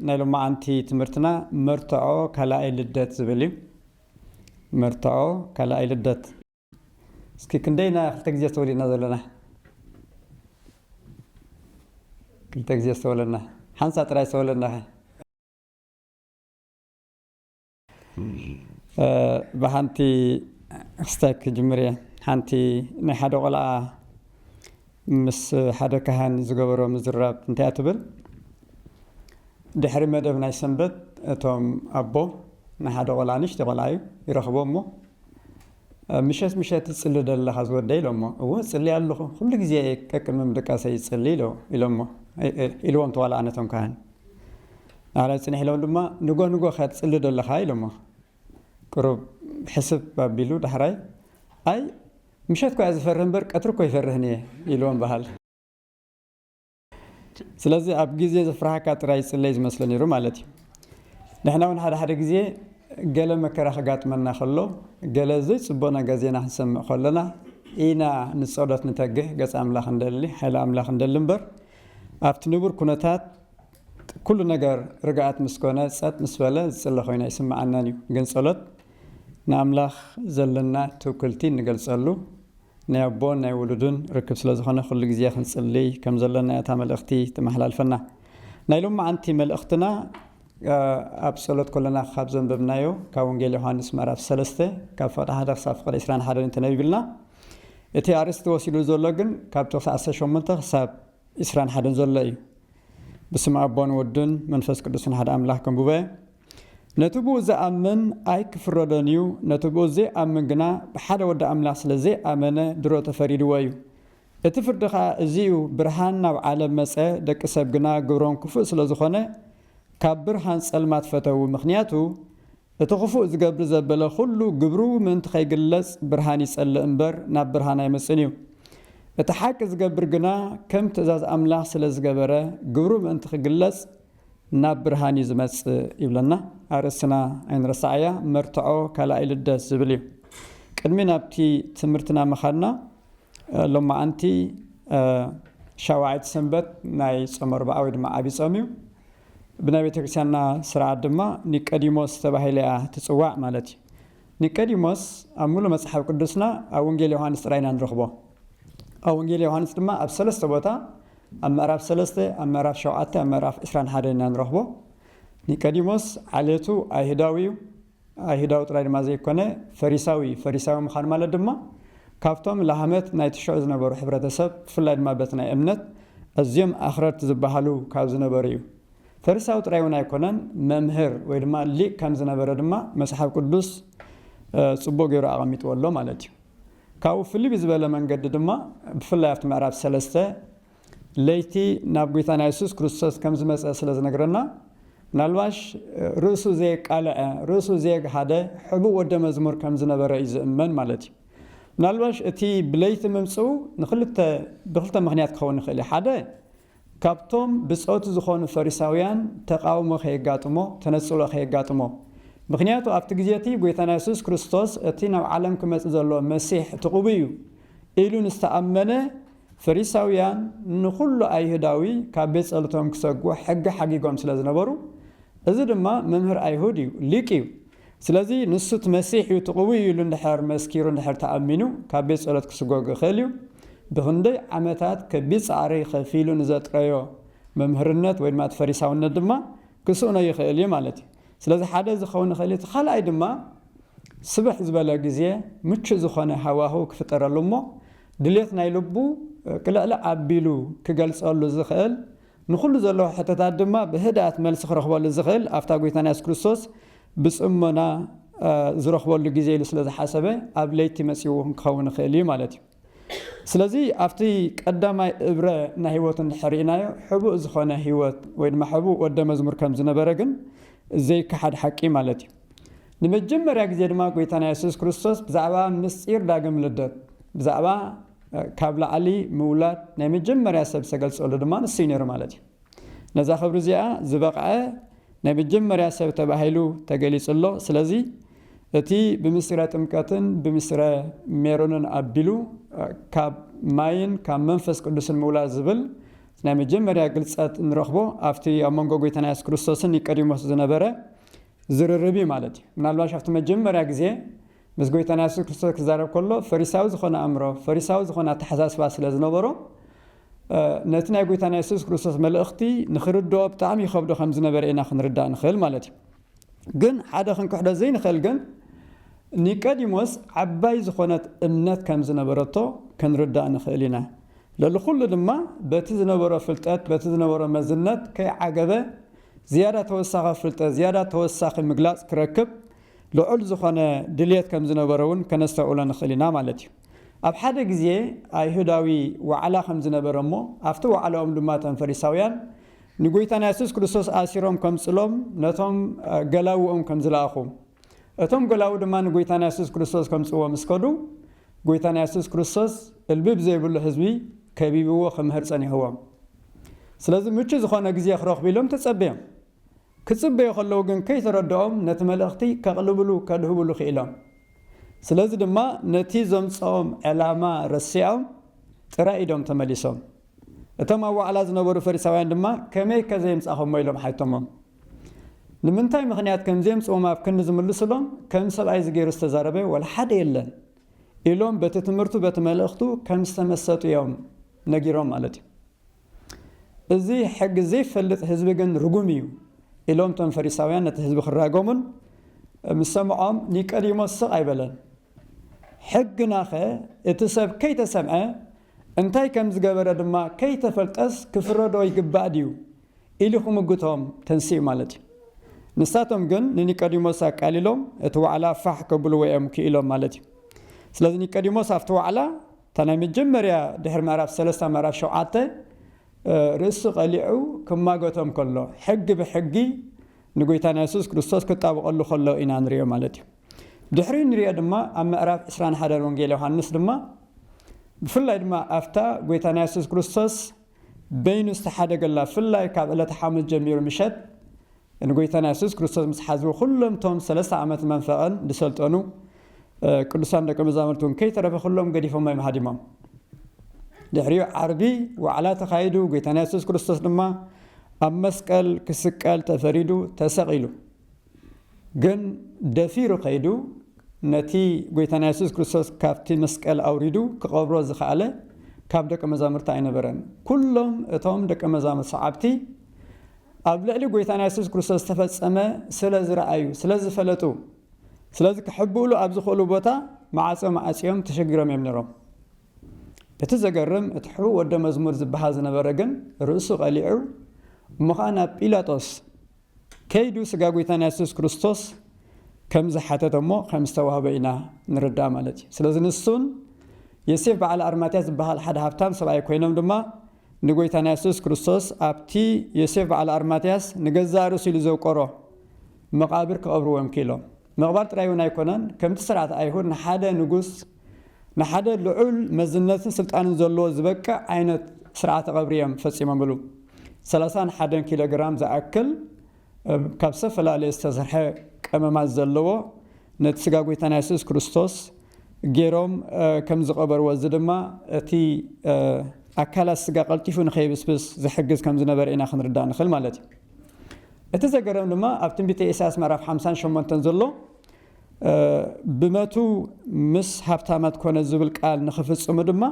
ናይ ሎማዓንቲ ትምህርትና መርትዖ ካላኣይ ልደት ዝብል እዩ መርትዖ ካላኣይ ልደት እስኪ ክንደይ ኢና ክልተ ግዜ ዝተወሊእና ዘለና ክልተ ግዜ ዝተወለና ሓንሳ ጥራይ ዝተወለና ብሓንቲ ክስታይ ክጅምር እየ ሓንቲ ናይ ሓደ ቆልዓ ምስ ሓደ ካህን ዝገበሮ ምዝራብ እንታይ እያ ትብል ድሕሪ መደብ ናይ ሰንበት እቶም ኣቦ ንሓደ ቆልዓ ንሽተ ቆልዓ እዩ ይረኽቦ እሞ ምሸት ምሸት ትፅሊ ደለኻ ዝወደ ኢሎሞ እዎ ፅሊ ኣለኹ ኩሉ ግዜ ቀቅድሚ ምድቃሰ ይፅሊ ኢሎ ኢሎሞ ኢልዎም ተዋልኣ ነቶም ካህን ኣላ ጽኒሕ ኢሎም ድማ ንጎ ንጎ ከ ትጽሊ ዶ ኣለኻ ኢሎሞ ቅሩብ ሕስብ ኣቢሉ ዳሕራይ ኣይ ምሸት ኮያ ዝፈርህ እምበር ቀትሪ እኮ ይፈርህን እየ ኢልዎም በሃል ስለዚ ኣብ ግዜ ዘፍርሃካ ጥራይ ይጽለይ ዝመስሎ ነይሩ ማለት እዩ ንሕና እውን ሓደ ሓደ ግዜ ገለ መከራ ከጋጥመና ከሎ ገለ ዘይጽቡቕ ነገር ዜና ክንሰምዕ ከሎና ኢና ንጸሎት ንተግህ ገጽ ኣምላኽ እንደሊ ሓይሊ ኣምላኽ እንደሊ እምበር ኣብቲ ንቡር ኩነታት ኩሉ ነገር ርግኣት ምስ ኮነ ጸጥ ምስ በለ ዝጽለ ኮይኑ ኣይስምዓናን እዩ ግን ጸሎት ንኣምላኽ ዘለና ትውክልቲ እንገልጸሉ ናይ ኣቦን ናይ ውሉድን ርክብ ስለ ዝኾነ ኩሉ ግዜ ክንጽሊ ከም ዘለና እያ እታ መልእኽቲ ተመሓላልፈና ናይ ሎምዓንቲ መልእኽትና ኣብ ጸሎት ኮለና ካብ ዘንበብናዮ ካብ ወንጌል ዮሓንስ ምዕራፍ ሰለስተ ካብ ፍቕዲ ሓደ ክሳብ ፍቕዲ ዕስራን ሓደን ተነቢብልና እቲ ኣርእስቲ ወሲድዎ ዘሎ ግን ካብ ጥቕሲ ዓሰርተ ሸሞንተ ክሳብ ዕስራን ሓደን ዘሎ እዩ። ብስም ኣቦን ወድን መንፈስ ቅዱስን ሓደ ኣምላኽ ከም ጉባኤ ነቲ ብኡ ዝኣምን ኣይክፍረዶን እዩ፣ ነቲ ብኡ ዘይኣምን ግና ብሓደ ወዲ ኣምላኽ ስለ ዘይኣመነ ድሮ ተፈሪድዎ እዩ። እቲ ፍርዲ ኸኣ እዚ እዩ፣ ብርሃን ናብ ዓለም መጸ፣ ደቂ ሰብ ግና ግብሮም ክፉእ ስለ ዝኾነ ካብ ብርሃን ጸልማት ፈተዉ፣ ምኽንያቱ እቲ ክፉእ ዝገብር ዘበለ ዅሉ ግብሩ ምእንቲ ኸይግለጽ ብርሃን ይጸልእ እምበር፣ ናብ ብርሃን ኣይመጽእን እዩ። እቲ ሓቂ ዝገብር ግና ከም ትእዛዝ ኣምላኽ ስለ ዝገበረ፣ ግብሩ ምእንቲ ኺግለጽ ናብ ብርሃን እዩ ዚመጽእ ይብለና። ኣርእስትና ኣይንረስዓያ፣ መርትዖ ካልኣይ ልደት ዝብል እዩ። ቅድሚ ናብቲ ትምህርትና ምኻድና፣ ሎማዓንቲ ሻውዓይቲ ሰንበት ናይ ጾመ ኣርብዓ ወይ ድማ ዓቢ ጾም እዩ። ብናይ ቤተክርስቲያንና ስርዓት ድማ ኒቀዲሞስ ተባሂለ እያ ትጽዋዕ ማለት እዩ። ኒቀዲሞስ ኣብ ሙሉ መጽሓፍ ቅዱስና ኣብ ወንጌል ዮሃንስ ጥራይ ኢና ንረኽቦ። ኣብ ወንጌል ዮሃንስ ድማ ኣብ ሰለስተ ቦታ ኣብ ምዕራፍ ሰለስተ፣ ኣብ ምዕራፍ ሸውዓተ፣ ኣብ ምዕራፍ ዕስራን ሓደን ኢና ንረኽቦ። ኒቀዲሞስ ዓሌቱ ኣይሁዳዊ እዩ። ኣይሁዳዊ ጥራይ ድማ ዘይኰነ፣ ፈሪሳዊ እዩ። ፈሪሳዊ ምዃን ማለት ድማ፣ ካብቶም ላህመት ናይቲ ሽዑ ዝነበሩ ሕብረተሰብ፣ ብፍላይ ድማ በቲ ናይ እምነት ኣዝዮም ኣኽረርቲ ዝበሃሉ ካብ ዝነበሩ እዩ። ፈሪሳዊ ጥራይ እውን ኣይኰነን፣ መምህር ወይ ድማ ሊቅ ከም ዝነበረ ድማ መጽሓፍ ቅዱስ ጽቡቕ ገይሩ ኣቐሚጥዎ ኣሎ ማለት እዩ። ካብኡ ፍልይ ብዝበለ መንገዲ ድማ፣ ብፍላይ ኣብቲ ምዕራፍ ሰለስተ፣ ለይቲ ናብ ጐይታና የሱስ ክርስቶስ ከም ዝመጸ ስለ ዝነግረና፣ ምናልባሽ ርእሱ ዘየቃልዐ፣ ርእሱ ዘየግሃደ ሕቡእ ወደ መዝሙር ከም ዝነበረ እዩ ዝእመን ማለት እዩ። ምናልባሽ እቲ ብለይቲ ምምጽኡ ንኽልተ ብኽልተ ምኽንያት ክኸውን ይኽእል እዩ። ሓደ ካብቶም ብጾቱ ዝኾኑ ፈሪሳውያን ተቓውሞ ከየጋጥሞ፣ ተነጽሎ ከየጋጥሞ። ምኽንያቱ ኣብቲ ግዜ እቲ ጐይታና የሱስ ክርስቶስ እቲ ናብ ዓለም ክመጽእ ዘሎ መሲሕ እቲ ቅቡእ እዩ ኢሉ ንዝተኣመነ ፈሪሳውያን ንዅሉ ኣይሁዳዊ ካብ ቤት ጸሎቶም ኪሰጕ ሕጊ ሓጊጎም ስለ ዝነበሩ፣ እዚ ድማ መምህር ኣይሁድ እዩ፣ ሊቅ እዩ፣ ስለዚ ንሱ እቲ መሲሕ እዩ፣ እቲ ቅቡእ እዩ ኢሉ እንድሕር መስኪሩ እንድሕር ተኣሚኑ ካብ ቤት ጸሎት ኪስጐግ ይኽእል እዩ። ብኽንደይ ዓመታት ከቢድ ጻዕሪ ኸፊሉ ንዘጥረዮ መምህርነት ወይ ድማ እቲ ፈሪሳውነት ድማ ኪስእኖ ይኽእል እዩ ማለት እዩ። ስለዚ ሓደ እዚ ክኸውን ይኽእል እዩ፣ እቲ ኻልኣይ ድማ ስብሕ ዝበለ ግዜ ምቹእ ዝዀነ ሃዋህው ኪፍጠረሉ እሞ ድሌት ናይ ልቡ ቅልዕልዕ ኣቢሉ ክገልጸሉ ዝኽእል፣ ንኹሉ ዘለዎ ሕቶታት ድማ ብህድኣት መልሲ ክረኽበሉ ዝኽእል ኣብታ ጎይታና የሱስ ክርስቶስ ብጽሞና ዝረኽበሉ ግዜ ኢሉ ስለ ዝሓሰበ ኣብ ለይቲ መጺኡ ክኸውን ይኽእል እዩ ማለት እዩ። ስለዚ ኣብቲ ቀዳማይ እብረ ናይ ህይወቱ እንድሕር ርኢናዮ ሕቡእ ዝኾነ ህይወት ወይ ድማ ሕቡእ ወደ መዝሙር ከም ዝነበረ ግን ዘይከሓድ ሓቂ ማለት እዩ። ንመጀመርያ ግዜ ድማ ጎይታና የሱስ ክርስቶስ ብዛዕባ ምስጢር ዳግም ልደት ብዛዕባ ካብ ላዕሊ ምውላድ ናይ መጀመርያ ሰብ ዝተገልጸሉ ድማ ንሱ ነይሩ ማለት እዩ ነዛ ክብሪ እዚኣ ዝበቕዐ ናይ መጀመርያ ሰብ ተባሂሉ ተገሊጹ ኣሎ ስለዚ እቲ ብምስጢረ ጥምቀትን ብምስጢረ ሜሮንን ኣቢሉ ካብ ማይን ካብ መንፈስ ቅዱስን ምውላድ ዝብል ናይ መጀመርያ ግልፀት ንረኽቦ ኣብቲ ኣብ መንጎ ጎይታና የሱስ ክርስቶስን ኒቀዲሞስ ዝነበረ ዝርርብ እዩ ማለት እዩ። ምናልባሽ ኣብቲ መጀመርያ ግዜ ምስ ጎይታና የሱስ ክርስቶስ ክዛረብ ከሎ ፈሪሳዊ ዝኾነ ኣእምሮ፣ ፈሪሳዊ ዝኾነ ኣተሓሳስባ ስለ ዝነበሮ ነቲ ናይ ጎይታና የሱስ ክርስቶስ መልእኽቲ ንኽርድኦ ብጣዕሚ ይኸብዶ ከም ዝነበረ ኢና ክንርዳእ ንኽእል ማለት እዩ። ግን ሓደ ክንክሕዶ ዘይንኽእል ግን ኒቀዲሞስ ዓባይ ዝኾነት እምነት ከም ዝነበረቶ ክንርዳእ ንኽእል ኢና። ለሊ ኩሉ ድማ በቲ ዝነበሮ ፍልጠት በቲ ዝነበሮ መዝነት ከይዓገበ ዝያዳ ተወሳኺ ፍልጠት፣ ዝያዳ ተወሳኺ ምግላጽ ክረክብ ልዑል ዝኾነ ድልየት ከም ዝነበሮ እውን ከነስተውዕሎ ንኽእል ኢና ማለት እዩ። ኣብ ሓደ ግዜ ኣይሁዳዊ ዋዕላ ከም ዝነበረ እሞ ኣብቲ ዋዕላኦም ድማ እቶም ፈሪሳውያን ንጎይታና የሱስ ክርስቶስ ኣሲሮም ከምጽሎም ነቶም ገላዉኦም ከም ዝለኣኹ፣ እቶም ገላዉ ድማ ንጐይታና የሱስ ክርስቶስ ከምጽእዎ ምስ ከዱ፣ ጐይታና የሱስ ክርስቶስ እልቢ ብዘይብሉ ህዝቢ ከቢብዎ ክምህር ጸኒሕዎም። ስለዚ ምቹእ ዝኾነ ግዜ ክረኽቡ ኢሎም ተጸበዮም። ክጽበዩ ከለዉ ግን ከይተረድኦም ነቲ መልእኽቲ ከቕልብሉ ከድህብሉ ክኢሎም። ስለዚ ድማ ነቲ ዘምጽኦም ዕላማ ረሲዖም ጥራይ ኢዶም ተመሊሶም። እቶም ኣብ ዋዕላ ዝነበሩ ፈሪሳውያን ድማ ከመይከ ዘየምጻኹሞ ኢሎም ሓይቶሞም። ንምንታይ ምኽንያት ከምዜምጽኡም ኣብ ክንዲ ዝምልሱሎም ከም ሰብኣይዚ ገይሩ ዝተዛረበ ወላ ሓደ የለን ኢሎም በቲ ትምህርቱ በቲ መልእኽቱ ከም ዝተመሰጡ እዮም ነጊሮም ማለት እዩ። እዚ ሕጊ ዘይፈልጥ ህዝቢ ግን ርጉም እዩ ኢሎም እቶም ፈሪሳውያን ነቲ ህዝቢ ክራገሙን ምስ ሰምዖም ኒቀዲሞስ ስቕ ኣይበለን። ሕግናኸ እቲ ሰብ ከይተሰምዐ እንታይ ከም ዝገበረ ድማ ከይተፈልጠስ ክፍረዶ ይግባእ ድዩ ኢሉ ኺምጕቶም ተንሲኡ ማለት እዩ። ንሳቶም ግን ንኒቆዲሞስ ኣቃሊሎም እቲ ዋዕላ ፋሕ ኬብልዎ እዮም ክኢሎም ማለት እዩ። ስለዚ፣ ኒቆዲሞስ ኣብቲ ዋዕላ፣ እታ ናይ መጀመርያ ድሕሪ ምዕራፍ ሰለስተ ኣብ ምዕራፍ ሸውዓተ ርእሱ ቐሊዑ ኺማጐቶም ከሎ፣ ሕጊ ብሕጊ ንጐይታና የሱስ ክርስቶስ ኪጣበቐሉ ኸሎ ኢና ንርእዮ ማለት እዩ። ድሕሪኡ እንርእዮ ድማ ኣብ ምዕራፍ ዕስራን ሓደን ወንጌል ዮሃንስ ድማ ብፍላይ ድማ ኣብታ ጐይታና የሱስ ክርስቶስ በይኑ ዝተሓደገላ ፍላይ ካብ ዕለተ ሓሙስ ጀሚሩ ምሸት ንጎይታና የሱስ ክርስቶስ ምስ ሓዝዎ ኩሎም ቶም ሰለስተ ዓመት መንፈቐን ዝሰልጠኑ ቅዱሳን ደቂ መዛሙርቲ እውን ከይተረፈ ኩሎም ገዲፎሞ እዮም ሃዲሞም ድሕሪኡ ዓርቢ ዋዕላ ተኻይዱ ጎይታና የሱስ ክርስቶስ ድማ ኣብ መስቀል ክስቀል ተፈሪዱ ተሰቒሉ ግን ደፊሩ ከይዱ ነቲ ጎይታና የሱስ ክርስቶስ ካብቲ መስቀል ኣውሪዱ ክቐብሮ ዝኸኣለ ካብ ደቀ መዛሙርቲ ኣይነበረን። ኩሎም እቶም ደቀ መዛሙርት ሰዓብቲ ኣብ ልዕሊ ጎይታና የሱስ ክርስቶስ ዝተፈጸመ ስለ ዝረኣዩ ስለ ዝፈለጡ ስለዚ ክሕብእሉ ኣብ ዝኽእሉ ቦታ መዓጾም ኣጽዮም ተሸጊሮም እዮም ነይሮም። እቲ ዘገርም እቲ ሕቡእ ወደ መዝሙር ዝበሃል ዝነበረ ግን ርእሱ ቀሊዑ እሞ ኸኣ ናብ ጲላጦስ ከይዱ ስጋ ጎይታና የሱስ ክርስቶስ ከም ዝሓተተ እሞ ከም ዝተዋህበ ኢና ንርዳእ ማለት እዩ። ስለዚ ንሱን የሴፍ በዓል ኣርማትያስ ዝበሃል ሓደ ሃብታም ሰብኣይ ኮይኖም ድማ ንጎይታና የሱስ ክርስቶስ ኣብቲ ዮሴፍ በዓል ኣርማትያስ ንገዛእ ርእሱ ኢሉ ዘውቀሮ መቓብር ክቐብርዎ እዮም ክኢሎም። ምቕባል ጥራይ እውን ኣይኮነን፣ ከምቲ ስርዓት ኣይሁድ ንሓደ ንጉስ፣ ንሓደ ልዑል መዝነትን ስልጣንን ዘለዎ ዝበቅዕ ዓይነት ስርዓተ ቐብሪ እዮም ፈጺሞምሉ። ሰላሳን ሓደን ኪሎ ግራም ዝኣክል ካብ ዝተፈላለየ ዝተሰርሐ ቀመማት ዘለዎ ነቲ ስጋ ጐይታና የሱስ ክርስቶስ ገይሮም ከም ዝቐበርዎ፣ እዚ ድማ እቲ ኣካላት ስጋ ቀልጢፉ ንኸይብስብስ ዝሕግዝ ከም ዝነበረ ኢና ክንርዳእ ንኽእል ማለት እዩ። እቲ ዘገርም ድማ ኣብ ትንቢተ ኢሳያስ ምዕራፍ ሓምሳን ሸሞንተን ዘሎ ብመቱ ምስ ሃብታማት ኮነ ዝብል ቃል ንኽፍጽሙ ድማ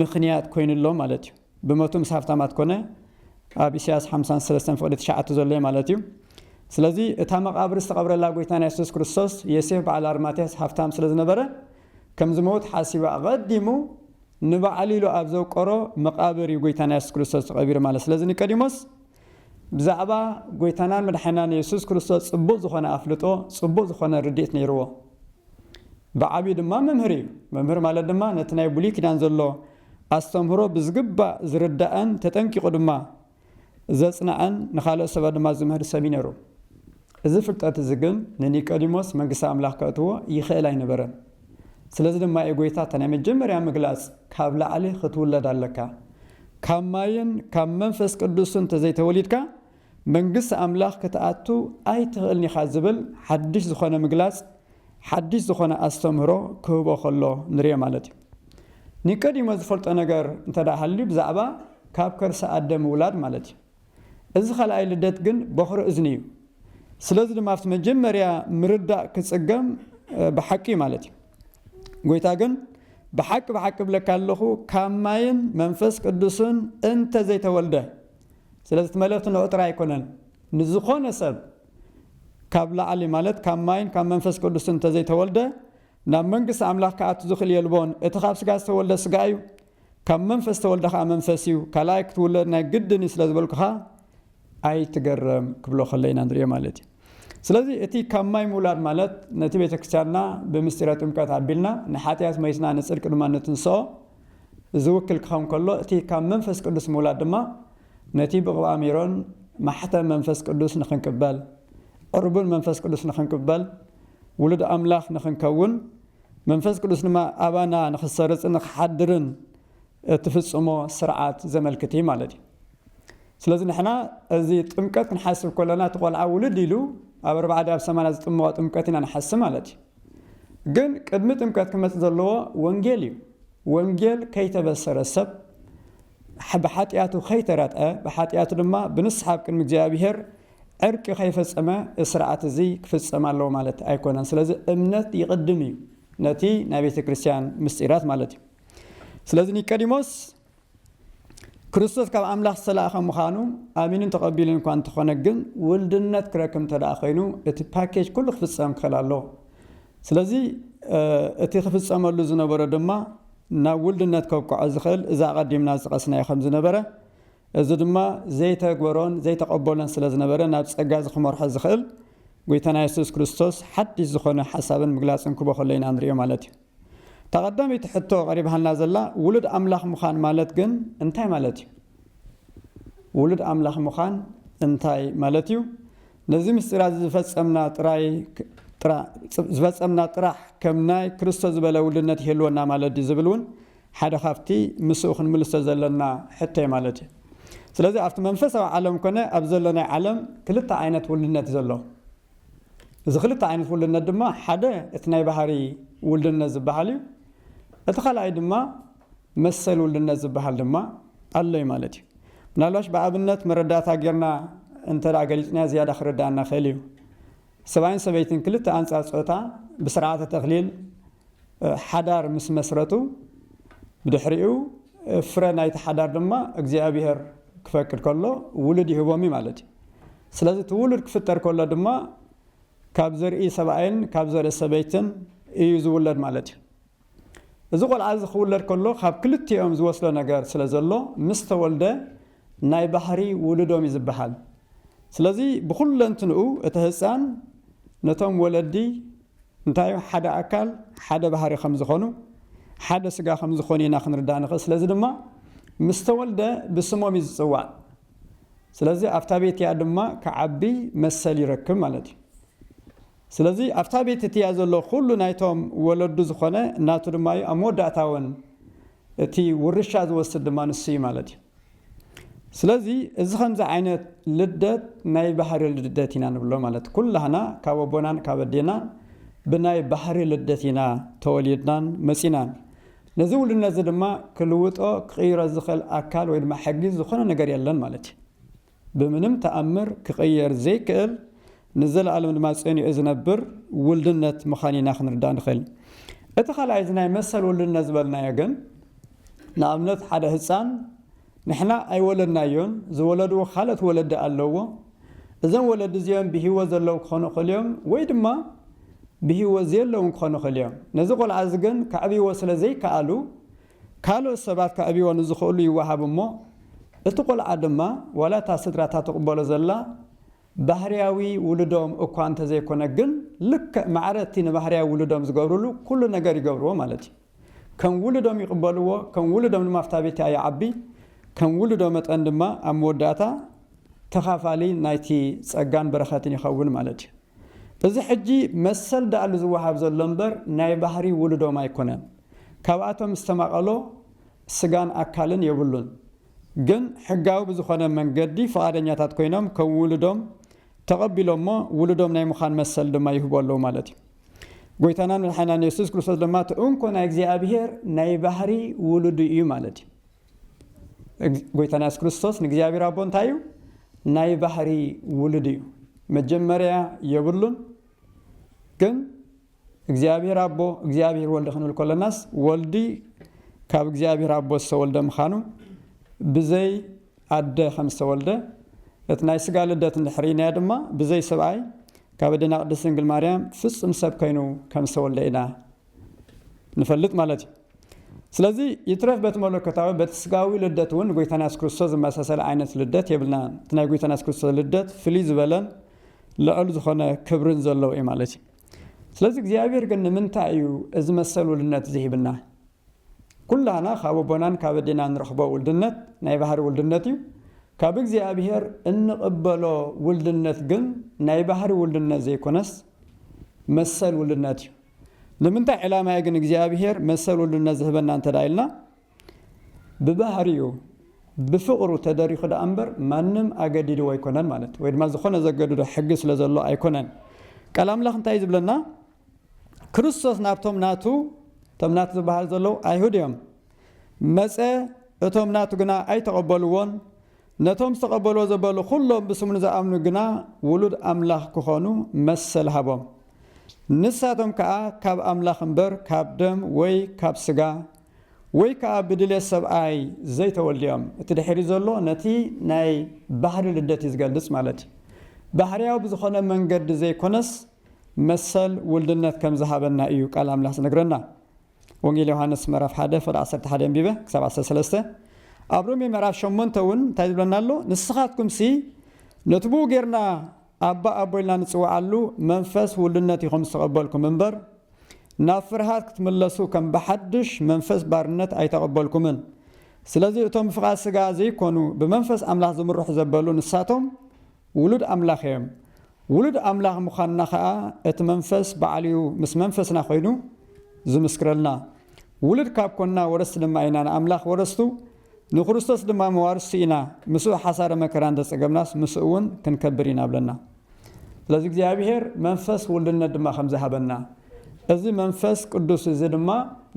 ምኽንያት ኮይኑሎ ማለት እዩ ብመቱ ምስ ሃብታማት ኮነ ኣብ ኢሳያስ ሓምሳን ሰለስተን ፍቕዲ ትሽዓተ ዘሎ እዩ ማለት እዩ ስለዚ እታ መቓብር ዝተቐብረላ ጎይታና የሱስ ክርስቶስ የሴፍ በዓል ኣርማትያስ ሃብታም ስለ ዝነበረ ከም ዝመውት ሓሲቡ ኣቐዲሙ ንበዓሉ ኢሉ ኣብ ዘውቀሮ መቓብር እዩ ጎይታና የሱስ ክርስቶስ ተቐቢሩ ማለት ስለዚ ኒቀዲሞስ ብዛዕባ ጐይታናን መድሓኒናን የሱስ ክርስቶስ ጽቡቕ ዝዀነ ኣፍልጦ፣ ጽቡቕ ዝዀነ ርድኢት ነይርዎ። ብዓብዩ ድማ መምህር ኢዩ። መምህር ማለት ድማ ነቲ ናይ ብሉይ ኪዳን ዘሎ ኣስተምህሮ ብዝግባእ ዝርዳእን ተጠንቂቑ ድማ ዘጽንዕን ንኻልኦት ሰባት ድማ ዝምህር ሰብ ኢዩ ነይሩ። እዚ ፍልጠት እዚ ግን ንኒቀዲሞስ መንግስቲ ኣምላኽ ከእትዎ ይኽእል ኣይነበረን። ስለዚ ድማ እዩ ጐይታ እታ ናይ መጀመርያ ምግላጽ ካብ ላዕሊ ኽትውለድ ኣለካ፣ ካብ ማይን ካብ መንፈስ ቅዱስን እንተ ዘይተወሊድካ መንግስቲ ኣምላኽ ክትኣቱ ኣይትኽእልን ኢኻ ዝብል ሓድሽ ዝኾነ ምግላጽ ሓድሽ ዝኾነ ኣስተምህሮ ክህቦ ከሎ ንርኦ ማለት እዩ። ኒቀዲሞስ ዝፈልጦ ነገር እንተ ሃልዩ ብዛዕባ ካብ ከርሲ ኣደ ምውላድ ማለት እዩ። እዚ ካልኣይ ልደት ግን ቦኽሪ እዝኒ እዩ። ስለዚ ድማ ኣብቲ መጀመርያ ምርዳእ ክጽገም ብሓቂ እዩ ማለት እዩ። ጎይታ ግን ብሓቂ ብሓቂ እብለካ ኣለኹ ካብ ማይን መንፈስ ቅዱስን እንተ ዘይተወልደ ስለዚ እቲ መልእኽቲ ንዑ ጥራይ ኣይኮነን ንዝኾነ ሰብ ካብ ላዕሊ ማለት ካብ ማይን ካብ መንፈስ ቅዱስን እንተ ዘይተወልደ ናብ መንግስቲ ኣምላኽ ክኣቱ ዝኽእል የልቦን እቲ ካብ ስጋ ዝተወልደ ስጋ እዩ ካብ መንፈስ ተወልደ ከኣ መንፈስ እዩ ካልኣይ ክትውለድ ናይ ግድን እዩ ስለ ዝበልኩኻ ኣይትገረም ክብሎ ከሎ ኢና ንሪኦ ማለት እዩ ስለዚ እቲ ካብ ማይ ምውላድ ማለት ነቲ ቤተ ክርስቲያንና ብምስጢረ ጥምቀት ኣቢልና ንሓጢኣት መይስና ንጽድቂ ድማ ንትንስኦ ዝውክል ክኸውን ከሎ እቲ ካብ መንፈስ ቅዱስ ምውላድ ድማ ነቲ ብቕብኣ ሜሮን ማሕተም መንፈስ ቅዱስ ንኽንቅበል ዕርቡን መንፈስ ቅዱስ ንኽንቅበል ውሉድ ኣምላኽ ንኽንከውን መንፈስ ቅዱስ ድማ ኣባና ንኽሰርጽ ንኽሓድርን እትፍጽሞ ስርዓት ዘመልክት እዩ ማለት እዩ ስለዚ ንሕና እዚ ጥምቀት ንሓስብ ከለና እቲ ቆልዓ ውልድ ኢሉ ኣብ ኣርባዕደ ኣብ ሰማና ዝጥምቆ ጥምቀት ኢና ንሓስብ ማለት እዩ ግን ቅድሚ ጥምቀት ክመፅ ዘለዎ ወንጌል እዩ ወንጌል ከይተበሰረ ሰብ ብሓጢኣቱ ከይተረትዐ ብሓጢኣቱ ድማ ብንስሓብ ቅድሚ እግዚኣብሄር ዕርቂ ከይፈጸመ እስርዓት እዚ ክፍጸም ኣለዎ ማለት ኣይኮነን ስለዚ እምነት ይቅድም እዩ ነቲ ናይ ቤተ ክርስትያን ምስጢራት ማለት እዩ ስለዚ ኒቀዲሞስ ክርስቶስ ካብ ኣምላኽ ዝተላእኸ ምዃኑ ኣሚኑን ተቐቢሉን እኳ እንተኾነ ግን ውልድነት ክረክብ እንተ ደኣ ኮይኑ እቲ ፓኬጅ ኩሉ ክፍጸም ክኽእል ኣለዎ ስለዚ እቲ ክፍጸመሉ ዝነበሮ ድማ ናብ ውልድነት ከብቅዖ ዝኽእል እዛ ኣቐዲምና ዝጠቐስናዮ ከም ዝነበረ እዚ ድማ ዘይተግበሮን ዘይተቐበሎን ስለ ዝነበረ ናብ ጸጋ እዚ ክመርሖ ዝኽእል ጐይታና የሱስ ክርስቶስ ሓድሽ ዝኾነ ሓሳብን ምግላጽን ክቦ ከሎ ኢና ንርእዮ ማለት እዩ። እታ ቀዳመይቲ ሕቶ ቀሪባሃልና ዘላ ውሉድ ኣምላኽ ምዃን ማለት ግን እንታይ ማለት እዩ? ውሉድ ኣምላኽ ምዃን እንታይ ማለት እዩ? ነዚ ምስጢራ እዚ ዝፈጸምና ጥራይ ዝፈጸምና ጥራሕ ከም ናይ ክርስቶ ዝበለ ውልድነት ይህልወና ማለት ድዩ ዝብል እውን ሓደ ካብቲ ምስኡ ክንምልሶ ዘለና ሕቶ'ዩ ማለት እዩ። ስለዚ ኣብቲ መንፈሳዊ ዓለም ኮነ ኣብዚ ዘሎ ናይ ዓለም ክልተ ዓይነት ውልድነት'ዩ ዘሎ። እዚ ክልተ ዓይነት ውልድነት ድማ ሓደ እቲ ናይ ባህርይ ውልድነት ዝበሃል እዩ። እቲ ካልኣይ ድማ መሰል ውልድነት ዝበሃል ድማ ኣሎ'ዩ ማለት እዩ። ምናልባሽ ብኣብነት መረዳእታ ጌርና እንተ ገሊጽናዮ ዝያዳ ክርደኣና ይኽእል እዩ። ሰብኣይን ሰበይትን ክልተ ኣንጻር ጾታ ብስርዓተ ተክሊል፣ ሓዳር ምስ መስረቱ ብድሕሪኡ ፍረ ናይቲ ሓዳር ድማ እግዚኣብሄር ክፈቅድ ከሎ ውሉድ ይህቦም እዩ ማለት እዩ። ስለዚ እቲ ውሉድ ክፍጠር ከሎ ድማ ካብ ዘርኢ ሰብኣይን ካብ ዘርኢ ሰበይትን እዩ ዝውለድ ማለት እዩ። እዚ ቆልዓ እዚ ክውለድ ከሎ ካብ ክልቲኦም ዝወስዶ ነገር ስለ ዘሎ ምስ ተወልደ ናይ ባህሪ ውሉዶም እዩ ዝበሃል። ስለዚ ብኹለንትንኡ እቲ ህፃን ነቶም ወለዲ እንታይ እዩ ሓደ ኣካል ሓደ ባህሪ ከም ዝኾኑ ሓደ ስጋ ከም ዝኾኑ ኢና ክንርዳእ ንኽእል ስለዚ ድማ ምስ ተወልደ ብስሞም እዩ ዝጽዋዕ ስለዚ ኣብታ ቤት እያ ድማ ክዓቢ መሰል ይረክብ ማለት እዩ ስለዚ ኣብታ ቤት እትያ ዘሎ ኩሉ ናይቶም ወለዱ ዝኾነ ናቱ ድማ እዩ ኣብ መወዳእታ እውን እቲ ውርሻ ዝወስድ ድማ ንሱ እዩ ማለት እዩ ስለዚ እዚ ከምዚ ዓይነት ልደት ናይ ባህሪ ልደት ኢና ንብሎ ማለት ኩላህና ካብ ኣቦናን ካብ ኣዴናን ብናይ ባህሪ ልደት ኢና ተወሊድናን መጺናን ነዚ ውሉድነት እዚ ድማ ክልውጦ ክቕይሮ ዝኽእል ኣካል ወይ ድማ ሕጊ ዝኾነ ነገር የለን ማለት እዩ ብምንም ተኣምር ክቕየር ዘይክእል ንዘለኣለም ድማ ጸኒዑ ዝነብር ውልድነት ምኻን ኢና ክንርዳእ ንኽእል። እቲ ካልኣይ እዚ ናይ መሰል ውልድነት ዝበልናዮ ግን ንኣብነት ሓደ ህጻን ንሕና ኣይወለድናዮን ዝወለድዎ ካልኦት ወለዲ ኣለዎ እዞም ወለዲ እዚኦም ብሂወት ዘለዉ ክኾኑ ይኽእሉ እዮም ወይ ድማ ብሂወት ዘየለዉን ክኾኑ ይኽእሉ እዮም። ነዚ ቆልዓ እዚ ግን ከዕብይዎ ስለ ዘይከኣሉ ካልኦት ሰባት ከዕብይዎ ንዝኽእሉ ይወሃብ እሞ እቲ ቆልዓ ድማ ዋላ እታ ስድራ እታ ትቕበሎ ዘላ ባህርያዊ ውሉዶም እኳ እንተዘይኮነ ግን ልክዕ ማዕረ እቲ ንባህርያዊ ውሉዶም ዝገብርሉ ኩሉ ነገር ይገብርዎ ማለት እዩ። ከም ውሉዶም ይቕበልዎ፣ ከም ውሉዶም ድማ ኣብታ ቤት እቲኣ ይዓቢ፣ ከም ውሉዶ መጠን ድማ ኣብ መወዳእታ ተኻፋሊ ናይቲ ጸጋን በረኸትን ይኸውን ማለት እዩ። እዚ ሕጂ መሰል ደኣሉ ዝወሃብ ዘሎ እምበር ናይ ባህሪ ውሉዶም ኣይኮነን። ካብኣቶም ዝተማቐሎ ስጋን ኣካልን የብሉን። ግን ሕጋዊ ብዝኾነ መንገዲ ፍቓደኛታት ኮይኖም ከም ውሉዶም ተቐቢሎምዎ ውሉዶም ናይ ምዃን መሰል ድማ ይህቡ ኣለዉ ማለት እዩ። ጎይታናን መድሓኒናን የሱስ ክርስቶስ ድማ እቲ እንኮ ናይ እግዚኣብሄር ናይ ባህሪ ውሉዱ እዩ ማለት እዩ። ጎይታና የሱስ ክርስቶስ ንእግዚኣብሄር ኣቦ እንታይ እዩ? ናይ ባህሪ ውሉድ እዩ። መጀመርያ የብሉን ግን እግዚኣብሔር ኣቦ እግዚኣብሔር ወልድ ክንብል ከሎናስ ወልድ ካብ እግዚኣብሔር ኣቦ ዝተወልደ ምኻኑ ብዘይ ኣደ ከም ዝተወልደ እቲ ናይ ስጋ ልደት እንድሕር ርኢናዮ ድማ ብዘይ ሰብኣይ ካብ ኣዴና ቅድስት ድንግል ማርያም ፍጹም ሰብ ከይኑ ከም ዝተወልደ ኢና ንፈልጥ ማለት እዩ። ስለዚ ይትረፍ በቲ መለኮታዊ በቲ ስጋዊ ልደት እውን ጎይታና የሱስ ክርስቶስ ዝመሳሰለ ዓይነት ልደት የብልናን እቲ ናይ ጎይታና የሱስ ክርስቶስ ልደት ፍልይ ዝበለን ልዑል ዝኾነ ክብርን ዘለዎ እዩ ማለት እዩ ስለዚ እግዚኣብሔር ግን ንምንታይ እዩ እዚ መሰል ውልድነት እዚ ሂብና? ኩላህና ካብ ኣቦናን ካብ ኣዴና እንረኽቦ ውልድነት ናይ ባህሪ ውልድነት እዩ። ካብ እግዚኣብሔር እንቕበሎ ውልድነት ግን ናይ ባህሪ ውልድነት ዘይኮነስ መሰል ውልድነት እዩ። ንምንታይ ዕላማ እዩ ግን እግዚኣብሔር መሰል ውልድነት ዝህበና እንተድኣ ኢልና ብባህሪኡ ብፍቕሩ ተደሪኹ ደኣ እምበር ማንም ኣገዲድዎ ኣይኮነን ማለት እዩ። ወይ ድማ ዝኾነ ዘገድዶ ሕጊ ስለ ዘሎ ኣይኮነን። ቃል ኣምላኽ እንታይ እዩ ዝብለና? ክርስቶስ ናብቶም ናቱ፣ እቶም ናቱ ዝበሃሉ ዘለዉ ኣይሁድ እዮም፣ መጸ፣ እቶም ናቱ ግና ኣይተቐበልዎን፣ ነቶም ዝተቐበልዎ ዘበሉ ዅሎም ብስሙ ንዝኣምኑ ግና ውሉድ ኣምላኽ ክዀኑ መሰል ሃቦም። ንሳቶም ከኣ ካብ ኣምላኽ እምበር ካብ ደም ወይ ካብ ስጋ ወይ ከኣ ብድሌት ሰብኣይ ዘይተወልዱ'ዮም። እቲ ድሒሩ ዘሎ ነቲ ናይ ባህሪ ልደት እዩ ዝገልጽ ማለት እዩ። ባህርያዊ ብዝኾነ መንገዲ ዘይኮነስ መሰል ውልድነት ከም ዝሃበና እዩ ቃል ኣምላኽ ዝነግረና። ወንጌል ዮሃንስ ምዕራፍ ሓደ ፍቕዲ ዓሰርተ ሓደ ኣንቢበ ክሳብ ዓሰርተ ሰለስተ። ኣብ ሮሜ ምዕራፍ ሸሞንተ እውን እንታይ ዝብለና ኣሎ ንስኻትኩምሲ ነቲ ብኡ ጌርና ኣባ ኣቦ ኢልና ንጽውዓሉ መንፈስ ውሉድነት ኢኹም ዝተቐበልኩም እምበር፣ ናብ ፍርሃት ክትምለሱ ከም ብሓድሽ መንፈስ ባርነት ኣይተቐበልኩምን። ስለዚ እቶም ብፍቓድ ስጋ ዘይኮኑ ብመንፈስ ኣምላኽ ዝምርሑ ዘበሉ ንሳቶም ውሉድ ኣምላኽ እዮም። ውሉድ ኣምላኽ ምዃንና ከኣ እቲ መንፈስ ባዕሉ'ዩ ምስ መንፈስና ኮይኑ ዝምስክረልና። ውሉድ ካብ ኮንና ወረስቲ ድማ ኢና ንኣምላኽ ወረስቱ ንክርስቶስ ድማ መዋርስቲ ኢና፣ ምስኡ ሓሳረ መከራ እንተ ጸገብናስ ምስኡውን ክንከብር ኢና በለና። ስለዚ እግዚኣብሄር መንፈስ ውልድነት ድማ ከምዚ ሃበና። እዚ መንፈስ ቅዱስ እዚ ድማ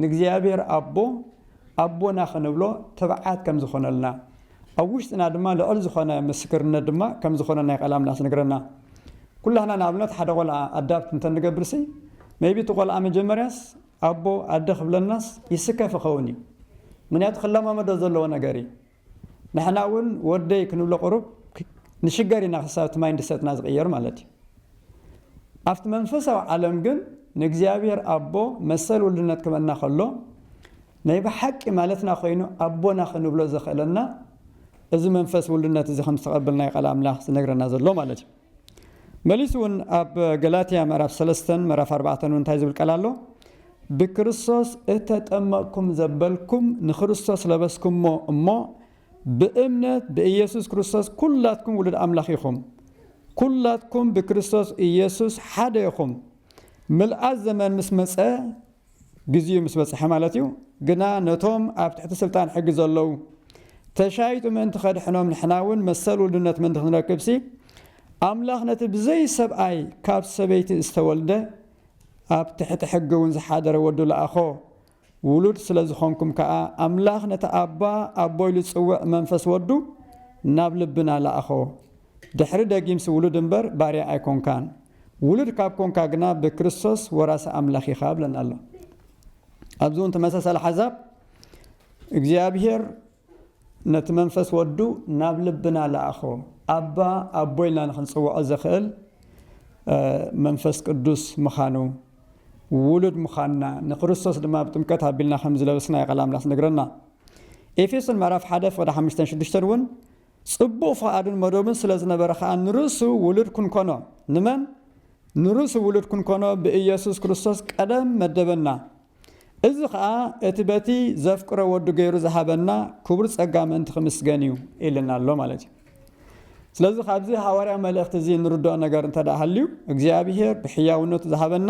ንእግዚኣብሄር ኣቦ ኣቦና ክንብሎ ትብዓት ከም ዝኾነልና ኣብ ውሽጥና ድማ ልዕል ዝኾነ ምስክርነት ድማ ከም ዝኾነና እዩ ቃል ኣምላኽ ዝነግረና። ኩላህና ንኣብነት ሓደ ቆልዓ ኣዳፕት እንተ ንገብርሲ ሜይቢ እቲ ቆልዓ መጀመርያስ ኣቦ ኣደ ክብለናስ ይስከፍ ይኸውን እዩ ምክንያቱ ክለማመዶ ዘለዎ ነገር እዩ ንሕና እውን ወደይ ክንብሎ ቁሩብ ንሽገር ኢና ክሳብ እቲ ማይንድሰትና ዝቅየር ማለት እዩ ኣብቲ መንፈሳዊ ዓለም ግን ንእግዚኣብሔር ኣቦ መሰል ውልድነት ክበና ከሎ ናይ ብሓቂ ማለትና ኮይኑ ኣቦና ክንብሎ ዘኽእለና እዚ መንፈስ ውልድነት እዚ ከም ዝተቀበልናዮ ቃል ኣምላኽ ዝነግረና ዘሎ ማለት እዩ መሊሱ ውን ኣብ ገላትያ ምዕራፍ ሰለስተን ምዕራፍ ኣርባዕተን ውን እንታይ ዝብል ቃል ኣሎ ብክርስቶስ እተጠመቅኩም ዘበልኩም ንክርስቶስ ለበስኩሞ እሞ ብእምነት ብእየሱስ ክርስቶስ ኩላትኩም ውሉድ ኣምላኽ ኢኹም ኩላትኩም ብክርስቶስ እየሱስ ሓደ ኢኹም ምልኣት ዘመን ምስ መጸ ግዚኡ ምስ በጽሐ ማለት እዩ ግና ነቶም ኣብ ትሕቲ ስልጣን ሕጊ ዘለዉ ተሻይጡ ምእንቲ ከድሕኖም ንሕና እውን መሰል ውልድነት ምእንቲ ክንረክብሲ ኣምላኽ ነቲ ብዘይ ሰብኣይ ካብ ሰበይቲ ዝተወልደ ኣብ ትሕቲ ሕጊ እውን ዝሓደረ ወዱ ለኣኾ ውሉድ ስለ ዝኾንኩም ከኣ ኣምላኽ ነቲ ኣባ ኣቦ ኢሉ ዝጽውዕ መንፈስ ወዱ ናብ ልብና ለኣኾ ድሕሪ ደጊምሲ ውሉድ እምበር ባርያ ኣይኮንካን ውሉድ ካብ ኮንካ ግና ብክርስቶስ ወራሲ ኣምላኽ ኢኻ ይብለና ኣሎ። ኣብዚ እውን ተመሳሳሊ ሓሳብ እግዚኣብሄር ነቲ መንፈስ ወዱ ናብ ልብና ለኣኾ ኣባ ኣቦ ኢልና ንክንፅውዖ ዘኽእል መንፈስ ቅዱስ ምዃኑ ውሉድ ምዃንና ንክርስቶስ ድማ ብጥምቀት ኣቢልና ከም ዝለበስና የቐል ኣምላኽ ዝነግረና ኤፌሶን ምዕራፍ ሓደ ፍቕዲ ሓምሽተን ሽዱሽተን እውን ጽቡቕ ፍቓዱን መደቡን ስለ ዝነበረ ኸኣ ንርእሱ ውሉድ ክንኰኖ፣ ንመን? ንርእሱ ውሉድ ክንኰኖ ብኢየሱስ ክርስቶስ ቀደም መደበና። እዚ ኸኣ እቲ በቲ ዘፍቅሮ ወዱ ገይሩ ዝሃበና ክቡር ጸጋ ምእንቲ ኺምስገን እዩ ኢሉና ኣሎ ማለት እዩ። ስለዚ ካብዚ ሃዋርያዊ መልእኽቲ እዚ እንርድኦ ነገር እንተድኣ ሃልዩ እግዚኣብሄር ብሕያውነቱ ዝሃበና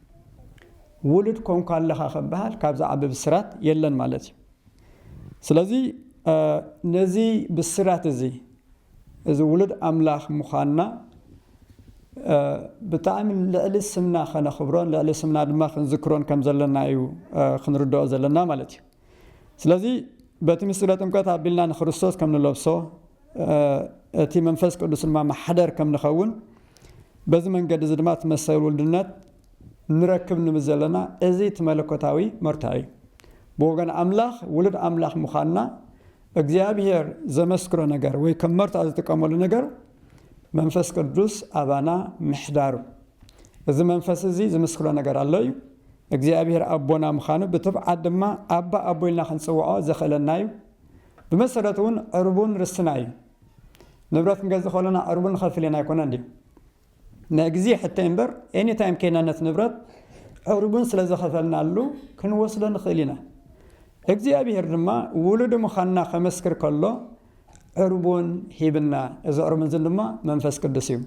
ውሉድ ኮንካ ኣለኻ ከበሃል ካብ ዝዓቢ ብስራት የለን ማለት እዩ ስለዚ ነዚ ብስራት እዚ እዚ ውሉድ ኣምላኽ ምዃንና ብጣዕሚ ልዕሊ ስምና ከነኽብሮን ልዕሊ ስምና ድማ ክንዝክሮን ከም ዘለና እዩ ክንርድኦ ዘለና ማለት እዩ ስለዚ በቲ ምስጢረ ጥምቀት ኣቢልና ንክርስቶስ ከም ንለብሶ እቲ መንፈስ ቅዱስ ድማ ማሕደር ከም ንኸውን በዚ መንገዲ እዚ ድማ እቲ መሰል ውልድነት ንረክብ ንብል ዘለና እዚ እቲ መለኮታዊ መርትዖ እዩ ብወገን ኣምላኽ ውሉድ ኣምላኽ ምዃንና እግዚኣብሔር ዘመስክሮ ነገር ወይ ከም መርትዖ ዝጥቀመሉ ነገር መንፈስ ቅዱስ ኣባና ምሕዳሩ እዚ መንፈስ እዚ ዝምስክሮ ነገር ኣሎ እዩ እግዚኣብሔር ኣቦና ምኻኑ ብትብዓት ድማ ኣባ ኣቦ ኢልና ክንጽውዖ ዘኽእለና እዩ። ብመሰረቱ እውን ዕርቡን ርስትና እዩ። ንብረት ክንገዝእ ከሎና ዕርቡን ንኸፍል ኢና ኣይኮነን ድዩ? ናይ ግዜ ሕቶይ እምበር ኤኒ ታይም ከይና ነቲ ንብረት ዕርቡን ስለ ዘኸፈልናሉ ክንወስዶ ንኽእል ኢና። እግዚኣብሔር ድማ ውሉዱ ምኻንና ከመስክር ከሎ ዕርቡን ሂብና። እዚ ዕርቡን እዚ ድማ መንፈስ ቅዱስ እዩ።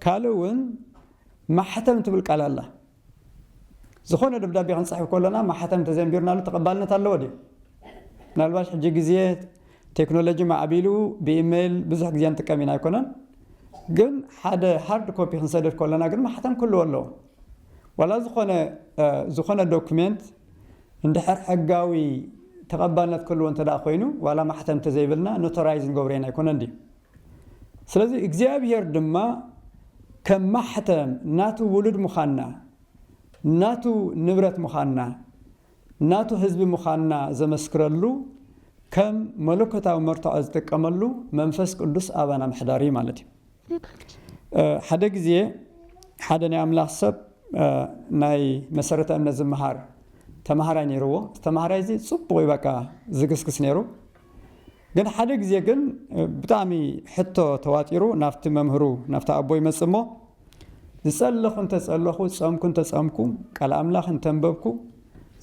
ካልእ እውን ማሕተም ትብል ቃል ኣላ። ዝኾነ ደብዳቤ ክንጽሕፍ ከሎና ማሕተም ተዘንቢርናሉ ተቐባልነት ኣለዎ ድዩ? ምናልባሽ ሕጂ ግዜ ቴክኖሎጂ ማዕቢሉ ብኢመይል ብዙሕ ግዜ ንጥቀም ኢና ኣይኮነን? ግን ሓደ ሃርድ ኮፒ ክንሰድድ ከሎና ግን ማሕተም ክህልዎ ኣለዎ። ዋላ ዝኾነ ዝኾነ ዶክሜንት እንድሕር ሕጋዊ ተቐባልነት ክህልዎ እንተድኣ ኮይኑ ዋላ ማሕተም ተዘይብልና ኖቶራይዝ ንገብሮ ኢና ኣይኮነን ድዩ? ስለዚ እግዚኣብሄር ድማ ከም ማሕተም ናቱ ውሉድ ምዃንና፣ ናቱ ንብረት ምዃንና፣ ናቱ ህዝቢ ምዃንና ዘመስክረሉ ከም መለኮታዊ መርትዖ ዝጥቀመሉ መንፈስ ቅዱስ ኣባና ምሕዳሩ እዩ ማለት እዩ። ሓደ ግዜ ሓደ ናይ ኣምላኽ ሰብ ናይ መሰረተ እምነት ዝመሃር ተማሃራይ ነይርዎ። እቲ ተማሃራይ እዚ ጽቡቕ እዩ በቃ ዝግስግስ ነይሩ። ግን ሓደ ግዜ ግን ብጣዕሚ ሕቶ ተዋጢሩ ናብቲ መምህሩ ናብቲ ኣቦ ይመጽእ እሞ ዝጸለኹ እንተ ጸለኹ ጸምኩ እንተ ጸምኩ ቃል ኣምላኽ እንተ ኣንበብኩ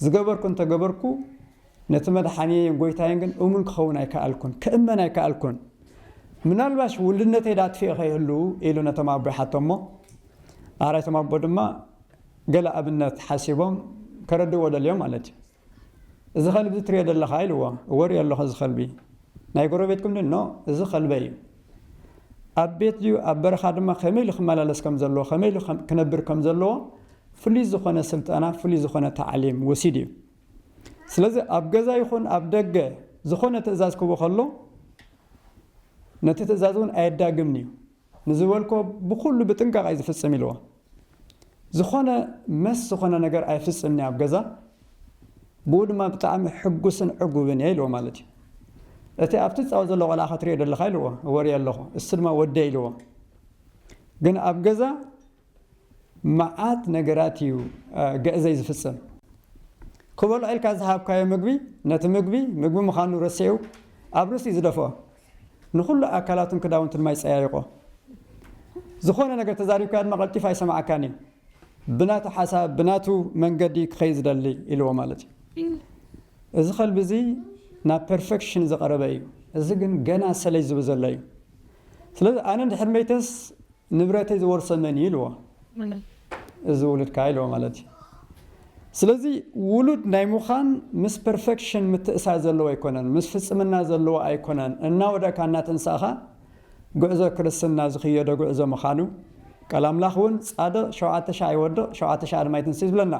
ዝገበርኩ እንተ ገበርኩ ነቲ መድሓንየይን ጎይታይን ግን እሙን ክኸውን ኣይከኣልኩን ክእመን ኣይከኣልኩን ምናልባሽ ውልድነተይ ዳ ኣጥፊኤ ከይህሉ ኢሉ ነቶም ኣቦ ይሓቶሞ ኣራይቶም ኣቦ ድማ ገለ ኣብነት ሓሲቦም ከረድእዎ ደልዮም ማለት እዩ እዚ ከልቢ ትሪኦ ዘለኻ ኢልዎ እወ ሪኦ ኣለኹ እዚ ከልቢ ናይ ጎረቤትኩም ድዩ ን እዚ ከልበይ እዩ ኣብ ቤት ድዩ ኣብ በረኻ ድማ ከመይ ኢሉ ክመላለስ ከም ዘለዎ ከመይ ኢሉ ክነብር ከም ዘለዎ ፍሉይ ዝኾነ ስልጠና ፍሉይ ዝኾነ ታዕሊም ወሲዱ እዩ ስለዚ ኣብ ገዛ ይኹን ኣብ ደገ ዝኾነ ትእዛዝ ክህቦ ከሎ ነቲ ትእዛዝ እውን ኣየዳግምን እዩ ንዝበልኮ ብኩሉ ብጥንቃቀ እዩ ዝፍፅም ኢልዎ ዝኮነ መስ ዝኮነ ነገር ኣይፍፅምን እየ ኣብ ገዛ ብኡ ድማ ብጣዕሚ ሕጉስን ዕጉብን እየ ኢልዎ ማለት እዩ እቲ ኣብቲ ዝፃወት ዘሎ ቆልዓ ከትሪኦ ደለካ ኢልዎ እወ ሪኦ ኣለኩ እሱ ድማ ወደይ ኢልዎ ግን ኣብ ገዛ መዓት ነገራት እዩ ግዕዘይ ዝፍጽም። ክበልዖ ኢልካ ዝሃብካዮ ምግቢ፣ ነቲ ምግቢ፣ ምግቢ ምዃኑ ረሲዑ ኣብ ርእሱ እዩ ዝደፍኦ። ንኹሉ ኣካላቱን ክዳውንቱን ማይ ጸያይቖ። ዝኾነ ነገር ተዛሪብካዮ ድማ ቀልጢፉ ኣይሰምዓካን እዩ። ብናቱ ሓሳብ፣ ብናቱ መንገዲ ክኸይድ ዝደሊ ኢልዎ ማለት እዩ። እዚ ከልቢ እዚ ናብ ፐርፈክሽን ዝቐረበ እዩ። እዚ ግን ገና ሰለይ ዝብል ዘሎ እዩ። ስለዚ ኣነ እንድሕር መይተስ፣ ንብረተይ ዝወርሶ መን እዩ ኢልዎ እዚ ውሉድካ ኢልዎ ማለት እዩ ስለዚ ውሉድ ናይ ምዃን ምስ ፐርፈክሽን ምትእሳር ዘለዎ ኣይኮነን ምስ ፍጽምና ዘለዎ ኣይኮነን እናወደእካ እናተንሳእኻ ጉዕዞ ክርስትና ዝኽየዶ ጉዕዞ ምዃኑ ቃል ኣምላኽ እውን ጻድቕ ሸውዓተ ሻዕ ይወድቕ ሸውዓተ ሻዕ ድማ ይትንስእ እዩ ዝብለና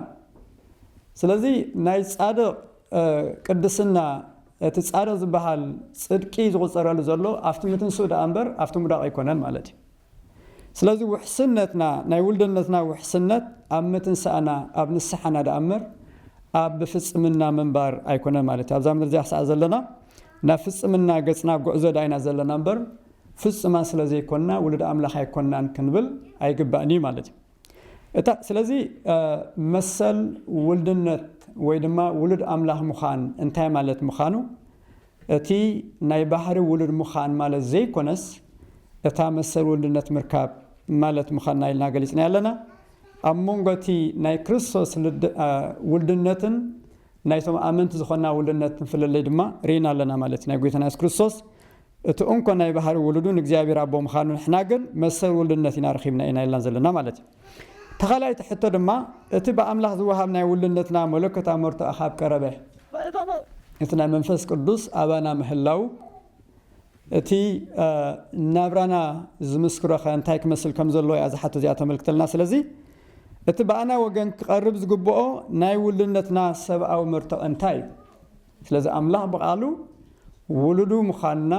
ስለዚ ናይ ጻድቕ ቅድስና፣ እቲ ጻድቕ ዝበሃል ጽድቂ ዝቑጸረሉ ዘሎ ኣብቲ ምትንስኡ ደኣ እምበር ኣብቲ ምውዳቕ ኣይኮነን ማለት እዩ። ስለዚ ውሕስነትና፣ ናይ ውልደነትና ውሕስነት ኣብ ምትንሳእና፣ ኣብ ንስሓና ደኣ እምበር ኣብ ብፍጽምና ምንባር ኣይኮነን ማለት እዩ። ኣብዛ ምድሪ እዚኣ ክሳዕ ዘለና ናብ ፍጽምና ገጽና ጉዕዞ ደኣ ኢና ዘለና እምበር ፍጹማን ስለ ዘይኮንና ውሉድ ኣምላኽ ኣይኮንናን ክንብል ኣይግባእን እዩ ማለት እዩ። እታ ስለዚ መሰል ውልድነት ወይ ድማ ውሉድ ኣምላኽ ምዃን እንታይ ማለት ምኻኑ እቲ ናይ ባህሪ ውሉድ ምዃን ማለት ዘይኮነስ እታ መሰል ውልድነት ምርካብ ማለት ምኻና ኢልና ገሊጽናያ ኣለና። ኣብ መንጎ እቲ ናይ ክርስቶስ ውልድነትን ናይቶም ኣመንቲ ዝኾና ውልድነትን ፍልልይ ድማ ርኢና ኣለና ማለት እዩ። ናይ ጎይታና የሱስ ክርስቶስ እቲ እንኮ ናይ ባህሪ ውሉዱ ንእግዚኣብሔር ኣቦ ምኻኑ ንሕና ግን መሰል ውሉድነት ኢና ረኺብና ኢና ኢልና ዘለና ማለት እዩ። እታ ካልኣይቲ ሕቶ ድማ እቲ ብኣምላኽ ዝወሃብ ናይ ውሉድነትና መለኮታዊ መርትዖ ካብ ቀረበ እቲ ናይ መንፈስ ቅዱስ ኣባና ምህላው እቲ ናብራና ዝምስክሮ ከ እንታይ ክመስል ከም ዘለዎ እያ እዛ ሕቶ እዚኣ ተመልክተልና ስለዚ እቲ ብኣና ወገን ክቐርብ ዝግብኦ ናይ ውሉድነትና ሰብኣዊ መርትዖ እንታይ እዩ ስለዚ ኣምላኽ ብቓሉ ውሉዱ ምዃንና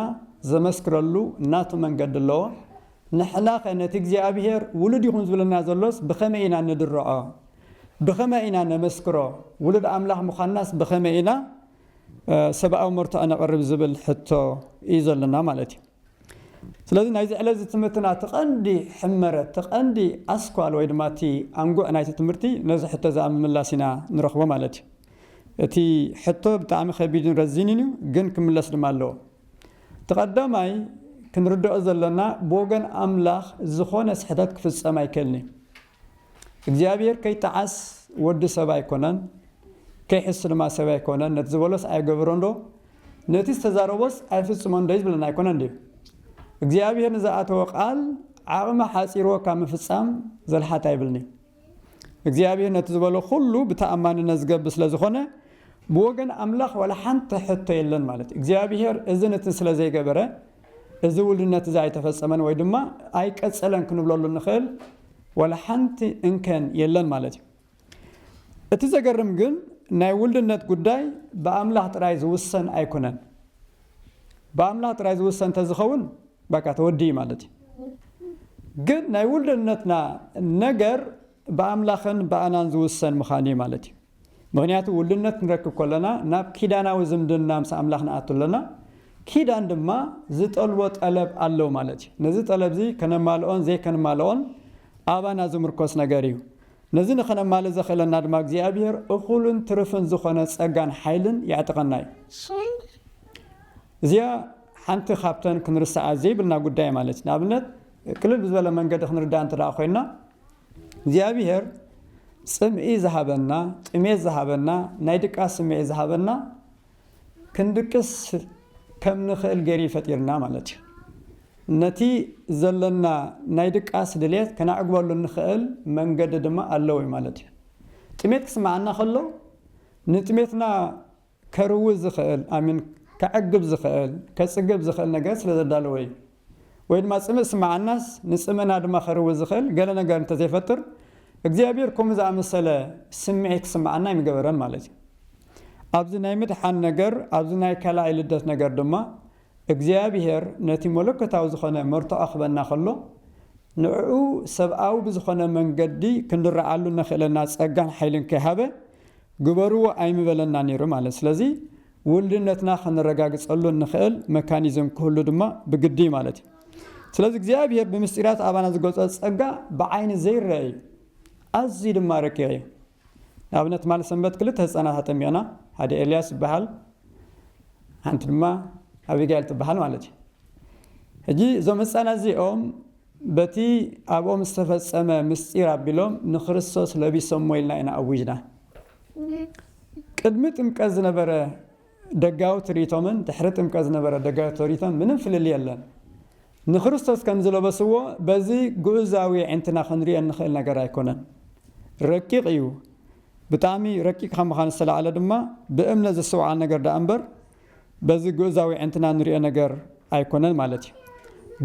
ዘመስክረሉ ናቱ መንገዲ ኣለዎ። ንሕናኸ ነቲ እግዚኣብሄር ውሉድ ይኹን ዝብለና ዘሎስ ብኸመይ ኢና ንድርዖ? ብኸመይ ኢና ነመስክሮ? ውሉድ ኣምላኽ ምዃንናስ ብኸመይ ኢና ሰብኣዊ መርትዖ ነቕርብ ዝብል ሕቶ እዩ ዘሎና ማለት እዩ። ስለዚ ናይዚ ዕለትዚ ትምህርትና እቲ ቀንዲ ሕመረት፣ እቲ ቀንዲ ኣስኳል ወይ ድማ እቲ ኣንጉዕ ናይቲ ትምህርቲ ነዚ ሕቶዚ ኣብ ምምላስ ኢና ንረኽቦ ማለት እዩ። እቲ ሕቶ ብጣዕሚ ከቢድን ረዚንን እዩ ግን ክምለስ ድማ ኣለዎ። እቲ ቀዳማይ ክንርደኦ ዘሎና ብወገን ኣምላኽ ዝኾነ ስሕተት ክፍጸም ኣይክእልን እዩ። እግዚኣብሄር ከይጠዓስ ወዲ ሰብ ኣይኮነን ከይሕሱ ድማ ሰብ ኣይኮነን ነቲ ዝበሎስ ኣይገብሮንዶ ነቲ ዝተዛረቦስ ኣይፍጽሞንዶ ይብለና ኣይኮነን ድዩ እግዚኣብሄር ንዝኣተዎ ቃል ዓቕሚ ሓጺርዎ ካብ ምፍጻም ዘልሓት ኣይብልንዩ እግዚኣብሄር ነቲ ዝበሎ ኩሉ ብተኣማንነት ዝገብር ስለ ዝኾነ ብወገን ኣምላኽ ዋላ ሓንቲ ሕቶ የለን ማለት እግዚኣብሄር እዝን እትን ስለ ዘይገበረ እዚ ውሉነት እዚ ኣይተፈጸመን ወይ ድማ ኣይቀጸለን ክንብለሉ እንኽእል ዋላ ሓንቲ እንከን የለን ማለት እዩ። እቲ ዘገርም ግን ናይ ውሉነት ጉዳይ ብኣምላኽ ጥራይ ዝውሰን ኣይኩነን። ብኣምላኽ ጥራይ ዝውሰን ተዝኸውን በቃ ተወዲኡ ማለት እዩ። ግን ናይ ውሉነትና ነገር ብኣምላኽን ብኣናን ዝውሰን ምዃኑ እዩ ማለት እዩ። ምኽንያቱ ውልድነት ክንረክብ ከሎና ናብ ኪዳናዊ ዝምድና ምስ ኣምላኽ ንኣቱ ኣሎና። ኪዳን ድማ ዝጠልቦ ጠለብ ኣሎ ማለት እዩ። ነዚ ጠለብዚ ከነማልኦን ዘይከንማልኦን ኣባና ዝምርኮስ ነገር እዩ። ነዚ ንኸነማልእ ዘኽእለና ድማ እግዚኣብሔር እኹልን ትርፍን ዝኾነ ጸጋን ሓይልን የዕጥቐና እዩ። እዚኣ ሓንቲ ካብተን ክንርስዓ ዘይብልና ጉዳይ ማለት እዩ። ንኣብነት ቅልል ብዝበለ መንገዲ ክንርድኣ እንተደኣ ኮይና እግዚኣብሄር ጽምኢ ዝሃበና፣ ጥሜት ዝሃበና፣ ናይ ድቃስ ስምዒት ዝሃበና ክንድቅስ ከም ንኽእል ገይሩ እዩ ፈጢርና ማለት እዩ። ነቲ ዘለና ናይ ድቃስ ድሌት ከነዕግበሉ እንኽእል መንገዲ ድማ ኣለዉ ማለት እዩ። ጥሜት ክስምዓና ከሎ ንጥሜትና ከርዊ ዝኽእል ኣይ ሚን ከዕግብ ዝኽእል ከጽግብ ዝኽእል ነገር ስለ ዘዳለወ እዩ። ወይ ድማ ጽምእ ዝስመዓናስ ንጽምእና ድማ ከርዊ ዝኽእል ገለ ነገር እንተ ዘይፈጥር እግዚኣብሄር ከምኡ ዝኣመሰለ ስምዒት ክስመዓና ኣይምገበረን ማለት እዩ። ኣብዚ ናይ ምድሓን ነገር ኣብዚ ናይ ካልኣይ ልደት ነገር ድማ እግዚኣብሄር ነቲ መለኮታዊ ዝኾነ መርትዖ ክህበና ከሎ ንዕዑ ሰብኣዊ ብዝኾነ መንገዲ ክንርዓሉ እነኽእለና ጸጋን ሓይልን ከይሃበ ግበርዎ ኣይምበለና ነይሩ ማለት ስለዚ ውልድነትና ከነረጋግጸሉ እንኽእል መካኒዝም ክህሉ ድማ ብግዲ እዩ ማለት እዩ ስለዚ እግዚኣብሔር ብምስጢራት ኣባና ዝገልጾ ጸጋ ብዓይኒ ዘይረአ እዩ ኣዝዩ ድማ ረቂቕ እዩ ንኣብነት ትማሊ ሰንበት ክልተ ህፃናት ኣጠሚቕና ሓደ ኤልያስ ይበሃል ሓንቲ ድማ ኣቢጋኤል ትበሃል ማለት እዩ ሕጂ እዞም ህፃናት እዚኦም በቲ ኣብኦም ዝተፈጸመ ምስጢር ኣቢሎም ንክርስቶስ ለቢሶሞ ኢልና ኢና ኣዊጅና። ቅድሚ ጥምቀት ዝነበረ ደጋዊ ትርኢቶምን ድሕሪ ጥምቀት ዝነበረ ደጋዊ ትርኢቶን ምንም ፍልልይ የለን። ንክርስቶስ ከም ዝለበስዎ በዚ ግኡዛዊ የዒንትና ክንሪኦ እንኽእል ነገር ኣይኮነን። ረቂቕ እዩ። ብጣዕሚ ረቂቕ ካብ ምዃን ዝተላዕለ ድማ ብእምነት ዝስተውዓል ነገር ደኣ እምበር፣ በዚ ግእዛዊ ኣዒንትና እንሪኦ ነገር ኣይኮነን ማለት እዩ።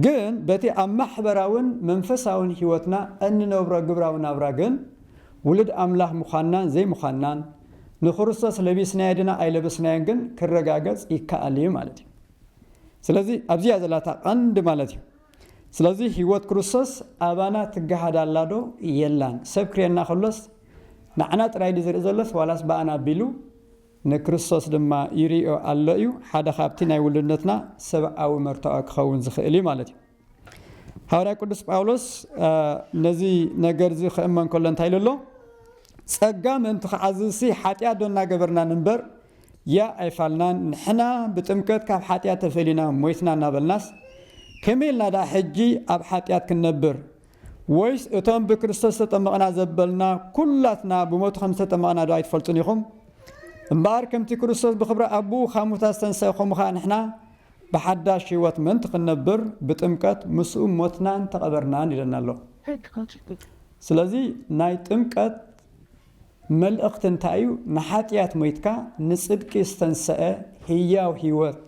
ግን በቲ ኣብ ማሕበራውን መንፈሳውን ሕይወትና እንነብሮ ግብራዊ ናብራ ግን ውሉድ ኣምላኽ ምዃንናን ዘይምዃንናን፣ ንክርስቶስ ለቢስናዮ ድና ኣይለበስናዮን ግን ክረጋገጽ ይከኣል እዩ ማለት እዩ። ስለዚ ኣብዚ እያ ዘላ እታ ቀንዲ ማለት እዩ። ስለዚ ሕይወት ክርስቶስ ኣባና ትገሃድ ኣላ ዶ የላን? ሰብ ክርእየና ከሎስ ንዓና ጥራይ ድዩ ዝርኢ ዘሎስ ዋላስ ብኣና ኣቢሉ? ንክርስቶስ ድማ ይርእዮ ኣሎ እዩ፣ ሓደ ኻብቲ ናይ ውሉድነትና ሰብኣዊ መርትዖ ኪኸውን ዚኽእል እዩ ማለት እዩ። ሃዋርያ ቅዱስ ጳውሎስ ነዚ ነገር እዚ ኺእመን ከሎ እንታይ ኢሉ ኣሎ? ጸጋ ምእንቲ ኺዓዝዝሲ ሓጢኣት ዶ እናገበርና ንንበር? ያእ ኣይፋልናን፣ ንሕና ብጥምቀት ካብ ሓጢኣት ተፈሊና ሞይትና እናበልናስ፣ ከመይ ኢልና ደኣ ሕጂ ኣብ ሓጢኣት ክንነብር? ወይስ እቶም ብክርስቶስ ዝተጠመቕና ዘበልና ኩላትና ብሞቱ ከም ዝተጠመቕና ዶ ኣይትፈልጡን ኢኹም? እምበኣር ከምቲ ክርስቶስ ብክብሪ ኣቦኡ ካብ ሙታት ዝተንስኤ ከምኡ ከኣ ንሕና ብሓዳሽ ህይወት ምእንቲ ክንነብር ብጥምቀት ምስኡ ሞትናን ተቐበርናን ይብለና ኣሎ። ስለዚ ናይ ጥምቀት መልእኽቲ እንታይ እዩ? ንሓጢኣት ሞይትካ ንጽድቂ ዝተንስኤ ህያው ህይወት፣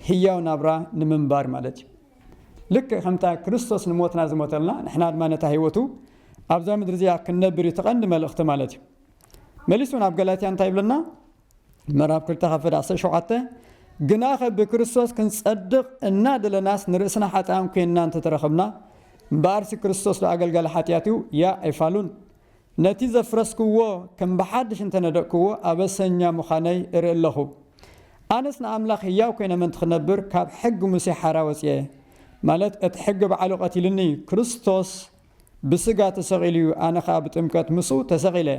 ህያው ናብራ ንምንባር ማለት እዩ። ልክዕ ከምታ ክርስቶስ ንሞትና ዝሞተልና ንሕና ድማ ነታ ህይወቱ ኣብዛ ምድሪ እዚኣ ክንነብር እዩ እቲ ቀንዲ መልእኽቲ ማለት እዩ መሊሱ ናብ ገላትያ እንታይ ይብለና ምዕራፍ ክልተ ካብ ፈደ ዓሰርተ ሸውዓተ ግናኸ ብክርስቶስ ክንጸድቕ እናደለናስ ንርእስና ሓጥኣን ኮይንና እንተተረኸብና እምበኣርሲ ክርስቶስ ዶ ኣገልጋሊ ሓጢኣት እዩ ያ ኣይፋሉን ነቲ ዘፍረስክዎ ከም ብሓድሽ እንተ ነደእክዎ ኣበሰኛ ምዃነይ እርኢ ኣሎኹ። ኣነስ ንኣምላኽ ህያው ኰይነ ምእንቲ ኽነብር ካብ ሕጊ ሙሴ ሓራ ወጺኤ። ማለት እቲ ሕጊ ባዕሉ ቐቲሉኒ እዩ። ክርስቶስ ብስጋ ተሰቒሉ እዩ፣ ኣነ ኸኣ ብጥምቀት ምስኡ ተሰቒለ።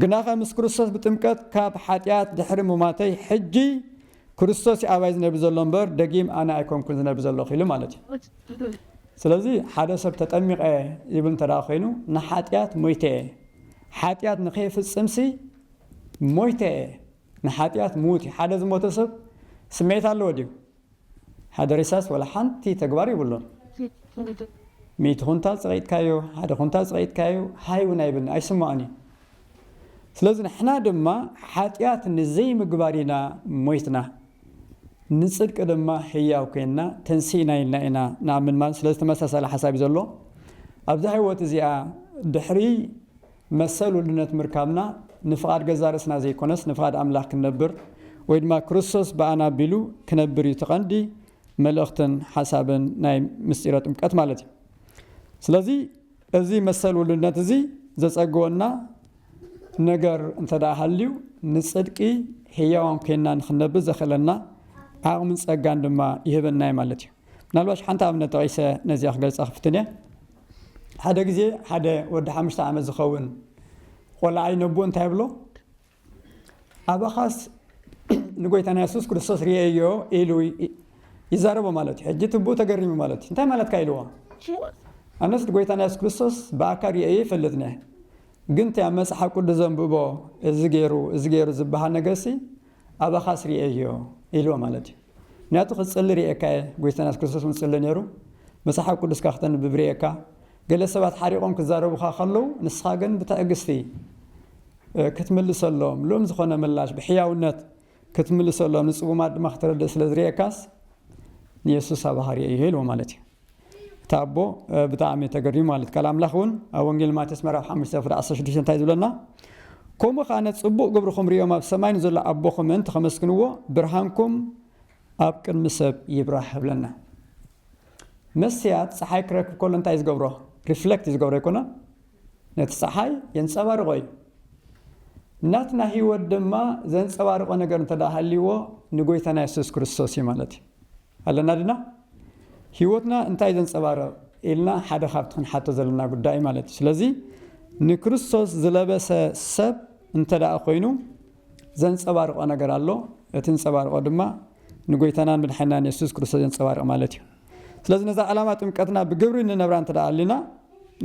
ግናኸ ምስ ክርስቶስ ብጥምቀት ካብ ሓጢኣት ድሕሪ ምሟተይ ሕጂ ክርስቶስ እዩ ኣባይ ዝነብር ዘሎ እምበር ደጊም ኣነ ኣይኮንኩን ዝነብር ዘለኹ ኢሉ ማለት እዩ። ስለዚ ሓደ ሰብ ተጠሚቐ ይብል እንተ ኮይኑ ንሓጢኣት ሞይተ እየ ሓጢኣት ንኸይፍጽምሲ ሞይተ እየ ንሓጢኣት ምዉት እዩ። ሓደ ዝሞተ ሰብ ስምዒት ኣለዎ ድዩ? ሓደ ሬሳስ ዋላ ሓንቲ ተግባር ይብሉን። ሚእቲ ኩንታል ጸቒጥካዮ፣ ሓደ ኩንታል ጸቒጥካዮ ሃይ እውን ኣይብልን፣ ኣይስምዖን እዩ። ስለዚ ንሕና ድማ ሓጢኣት ንዘይምግባር ኢና ሞይትና፣ ንጽድቂ ድማ ህያው ኴንና ተንሲእና ኢልና ኢና ንኣምን ማለት እዩ። ስለዚ ተመሳሳሊ ሓሳብ እዩ ዘሎ። ኣብዛ ህይወት እዚኣ ድሕሪ መሰል ውልድነት ምርካብና ንፍቓድ ገዛእ ርእስና ዘይኰነስ ንፍቓድ ኣምላኽ ክንነብር ወይ ድማ ክርስቶስ ብኣና ኣቢሉ ክነብር እዩ እቲ ቀንዲ መልእኽትን ሓሳብን ናይ ምስጢረ ጥምቀት ማለት እዩ። ስለዚ እዚ መሰል ውሉድነት እዚ ዘጸግወና ነገር እንተደኣ ሃልዩ፣ ንጽድቂ ህያዋን ኴንና ንኽንነብር ዘኽእለና ዓቕምን ጸጋን ድማ ይህበና እዩ ማለት እዩ። ምናልባሽ ሓንቲ ኣብነት ጠቒሰ ነዚኣ ክገልጻ ክፍትን እየ። ሓደ ግዜ ሓደ ወዲ ሓሙሽተ ዓመት ዝኸውን ቖልዓይ ነቡኡ እንታይ ይብሎ? ኣባኻስ ንጎይታና የሱስ ክርስቶስ ርእየዮ ኢሉ ይዛረቦ ማለት እዩ። ሕጂ ትብኡ ተገሪሙ ማለት እዩ። እንታይ ማለትካ ኢልዎ። ኣነስ ንጎይታና የሱስ ክርስቶስ ብኣካል ርእየዮ ይፈልጥ ነህ። ግን እቲ ኣብ መጽሓፍ ቅዱስ ዘንብቦ እዚ ገይሩ እዚ ገይሩ ዝበሃል ነገርሲ ኣባኻስ ርእየዮ ኢልዎ ማለት እዩ። ምክንያቱ ክጽሊ ርእየካ እየ፣ ጎይታና የሱስ ክርስቶስ እውን ዝጽሊ ነይሩ። መጽሓፍ ቅዱስካ ክተንብብ ርእየካ። ገለ ሰባት ሓሪቖም ክዛረቡኻ ከለዉ፣ ንስኻ ግን ብትዕግስቲ ክትምልሰሎም፣ ልኡም ዝኾነ ምላሽ ብሕያውነት ክትምልሰሎም፣ ንጽጉማት ድማ ክተረድእ ስለ ዝርኤካስ፣ ንየሱስ ኣባሃርየ እየ ኢልዎ ማለት እዩ። እቲ ኣቦ ብጣዕሚ ተገሪሙ ማለት ቃል ኣምላኽ እውን ኣብ ወንጌል ማቴዎስ ምዕራፍ ሓሙሽተ ፍረ ዓሰርተ ሽዱሽተ እንታይ ዝብለና ከምኡ ከኣ ነቲ ጽቡቕ ግብርኹም ርእዮም ኣብ ሰማይ ንዘሎ ኣቦኹም ምእንቲ ከመስግንዎ ብርሃንኩም ኣብ ቅድሚ ሰብ ይብራህ እብለና። መስትያት ጸሓይ ክረክብ ከሎ እንታይ እዩ ዝገብሮ? ሪፍለክት እዩ ዝገብሮ ኣይኮነን? ነቲ ጸሓይ የንጸባርቖ እዩ። ናትና ህይወት ድማ ዘንጸባርቖ ነገር እንተ ሃልይዎ ንጎይታና የሱስ ክርስቶስ እዩ ማለት እዩ። ኣለና ድና? ህይወትና እንታይ እዩ ዘንጸባርቕ? ኢልና ሓደ ካብቲ ክንሓቶ ዘለና ጉዳይ ማለት እዩ ስለዚ ንክርስቶስ ዝለበሰ ሰብ እንተ ኮይኑ ዘንጸባርቆ ነገር ኣሎ እቲ ንጸባርቆ ድማ ንጎይታናን መድሓኒናን የሱስ ክርስቶስ የንጸባርቅ ማለት እዩ ስለዚ ነዛ ዕላማ ጥምቀትና ብግብሪ ንነብራ እንተ ኣሊና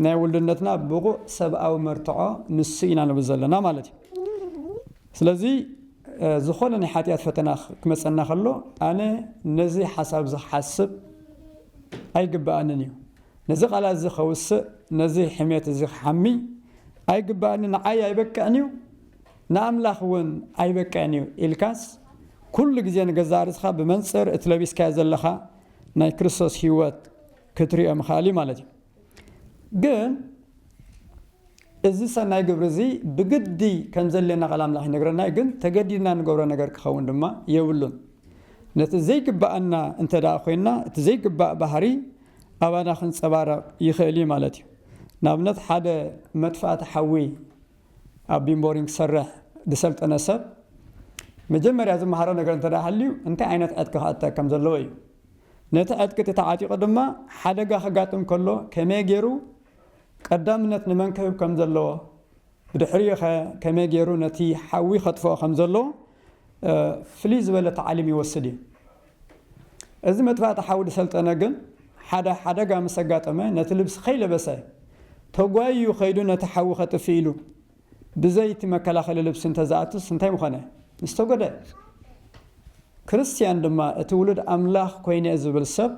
ናይ ውልድነትና ብቑእ ሰብኣዊ መርትዖ ንሱ ኢና ንብል ዘለና ማለት እዩ ስለዚ ዝኾነ ናይ ሓጢኣት ፈተና ክመፀና ከሎ ኣነ ነዚ ሓሳብ እዚ ክሓስብ ኣይግብኣንን እዩ ነዚ ቃላት እዚ ከውስእ ነዚ ሕሜት እዚ ክሓሚ ኣይግብኣኒ ንዓይ ኣይበቅዕን እዩ ንኣምላኽ እውን ኣይበቅዕን እዩ ኢልካስ፣ ኩሉ ግዜ ንገዛእ ርእስኻ ብመንጽር እቲ ለቢስካዮ ዘለኻ ናይ ክርስቶስ ህይወት ክትርእዮ ምኽኣል እዩ ማለት እዩ። ግን እዚ ሰናይ ግብሪ እዚ ብግዲ ከም ዘድልየና ቃል ኣምላኽ ይነግረና እዩ፣ ግን ተገዲድና ንገብሮ ነገር ክኸውን ድማ የብሉን። ነቲ ዘይግብኣና እንተ ደኣ ኮይንና እቲ ዘይግባእ ባህሪ ኣባና ክንጸባረቕ ይኽእል እዩ ማለት እዩ። ንኣብነት ሓደ መጥፋእቲ ሓዊ፣ ኣብ ቢምቦሪንግ ክሰርሕ ዝሰልጠነ ሰብ መጀመርያ ዝመሃሮ ነገር እንተ ሃልዩ እንታይ ዓይነት ዕጥቂ ክዕጠቅ ከም ዘለዎ እዩ። ነቲ ዕጥቂ እቲ ተዓጢቑ ድማ ሓደጋ ከጋጥም ከሎ ከመይ ገይሩ ቀዳምነት ንመን ክህብ ከም ዘለዎ ብድሕሪኡኸ ከመይ ገይሩ ነቲ ሓዊ ከጥፍኦ ከም ዘለዎ ፍልይ ዝበለ ታዕሊም ይወስድ እዩ። እዚ መጥፋእቲ ሓው ድሰልጠነ ግን ሓደ ሓደጋ ምስ ኣጋጠመ ነቲ ልብሲ ከይለበሰ ተጓይዩ ከይዱ ነቲ ሓዊ ከጥፍእ ኢሉ ብዘይ እቲ መከላኸሊ ልብሲ እንተዝኣቱስ እንታይ ምኾነ? ምስተጎድኣ። ክርስትያን ድማ እቲ ውሉድ ኣምላኽ ኮይነ'የ ዝብል ሰብ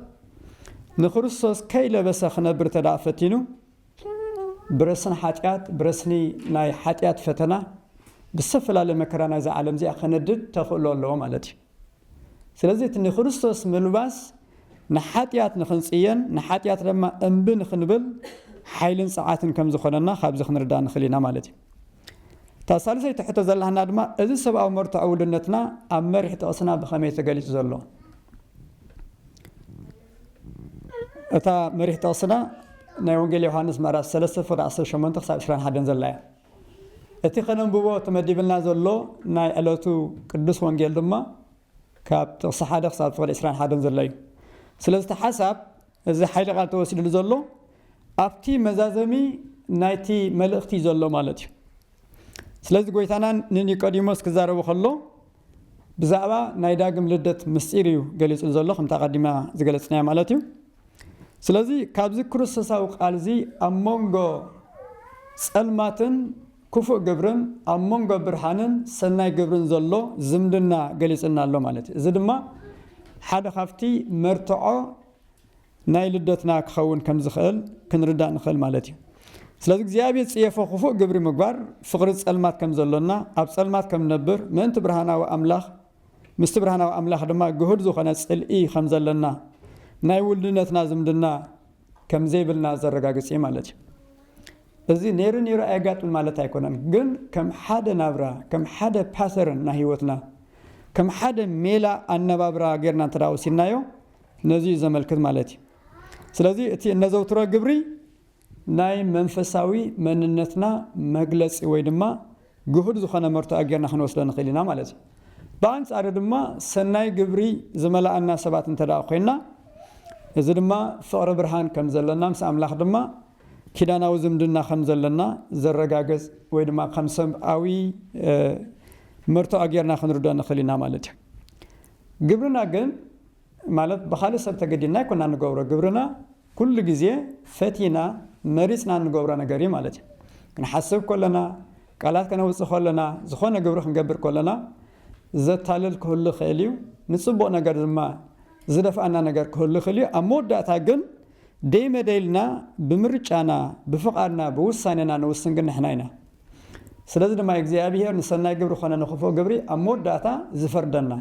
ንክርስቶስ ከይለበሰ ክነብር እንተድኣ ፈቲኑ ብረስኒ ሓጢኣት፣ ብረስኒ ናይ ሓጢኣት ፈተና ብዝተፈላለየ መከራ ናይዛ ዓለም'ዚኣ ከነድድ ተኽእሎ ኣለዎ ማለት'ዩ። ስለዚ እቲ ንክርስቶስ ምልባስ ንሓጢኣት ንክንጽየን ንሓጢኣት ደማ እምቢ ንክንብል ሓይልን ጸዓትን ከም ዝኮነና ካብዚ ክንርዳእ ንክል ኢና ማለት እዩ። እታ ሳልሰይቲ ሕቶ ዘላና ድማ እዚ ሰብኣዊ መርትዖ ውልነትና ኣብ መሪሕ ጥቅስና ብከመይ ተገሊጹ ዘሎ? እታ መሪሕ ጥቅስና ናይ ወንጌል ዮሃንስ ምዕራፍ ሰለስተ ፍቅዲ ዓሰርተ ሸሞንተ ክሳብ ዕስራን ሓደን ዘላ እያ። እቲ ከነንብቦ ተመዲብልና ዘሎ ናይ ዕለቱ ቅዱስ ወንጌል ድማ ካብ ጥቕሲ ሓደ ክሳብ ጥቕሊ ዕስራን ሓደን ዘሎ እዩ። ስለዚ እቲ ሓሳብ እዚ ሓይሊ ቃል ተወሲድሉ ዘሎ ኣብቲ መዛዘሚ ናይቲ መልእኽቲ እዩ ዘሎ ማለት እዩ። ስለዚ ጎይታና ንኒቆዲሞስ ክዛረቦ ከሎ ብዛዕባ ናይ ዳግም ልደት ምስጢር እዩ ገሊጹ ዘሎ ከምቲ ኣቀዲምና ዝገለጽናዮ ማለት እዩ። ስለዚ ካብዚ ክርስቶሳዊ ቃል እዚ ኣብ መንጎ ጸልማትን ክፉእ ግብርን ኣብ መንጎ ብርሃንን ሰናይ ግብርን ዘሎ ዝምድና ገሊጹልና ኣሎ ማለት እዩ። እዚ ድማ ሓደ ካብቲ መርትዖ ናይ ልደትና ክኸውን ከም ዝኽእል ክንርዳእ ንኽእል ማለት እዩ። ስለዚ እግዚኣብሔር ጽየፎ ክፉእ ግብሪ ምግባር ፍቕሪ ጸልማት ከም ዘሎና ኣብ ጸልማት ከም ንነብር ምእንቲ ብርሃናዊ ኣምላኽ ምስቲ ብርሃናዊ ኣምላኽ ድማ ግሁድ ዝኾነ ጽልኢ ከም ዘለና ናይ ውልድነትና ዝምድና ከም ዘይብልና ዘረጋግጽ እዩ ማለት እዩ። እዚ ነይሩ ነይሩ ኣየጋጥም ማለት ኣይኮነን፣ ግን ከም ሓደ ናብራ ከም ሓደ ፓተርን ናይ ህይወትና ከም ሓደ ሜላ ኣነባብራ ጌርና እንተ ወሲድናዮ ነዚ እዩ ዘመልክት ማለት እዩ። ስለዚ እቲ እነዘውትሮ ግብሪ ናይ መንፈሳዊ መንነትና መግለጺ ወይ ድማ ግሁድ ዝኾነ መርትዖ ጌርና ክንወስዶ ንኽእል ኢና ማለት እዩ። ብኣንጻሩ ድማ ሰናይ ግብሪ ዝመልኣና ሰባት እንተድኣ ኮይንና እዚ ድማ ፍቕሪ ብርሃን ከም ዘለና ምስ ኣምላኽ ድማ ኪዳናዊ ዝምድና ከም ዘለና ዘረጋግጽ ወይ ድማ ከም ሰብኣዊ መርትዖ ጌርና ክንርድኦ ንኽእል ኢና ማለት እዩ። ግብርና ግን ማለት ብኻልእ ሰብ ተገዲድና ኣይኮናን ንገብሮ፣ ግብርና ኩሉ ግዜ ፈቲና መሪጽና እንገብሮ ነገር እዩ ማለት እዩ። ክንሓስብ ከሎና፣ ቃላት ከነውጽእ ከሎና፣ ዝኾነ ግብሪ ክንገብር ከሎና ዘታልል ክህሉ ይኽእል እዩ፣ ንጽቡቕ ነገር ድማ ዝደፍኣና ነገር ክህሉ ይኽእል እዩ፣ ኣብ መወዳእታ ግን ደይ መደይ ኢልና ብምርጫና፣ ብፍቓድና፣ ብውሳኔና ንውስን ግን ንሕና ኢና። ስለዚ ድማ እዩ እግዚኣብሄር ንሰናይ ግብሪ ኮነ ንኽፉእ ግብሪ ኣብ መወዳእታ ዝፈርደና።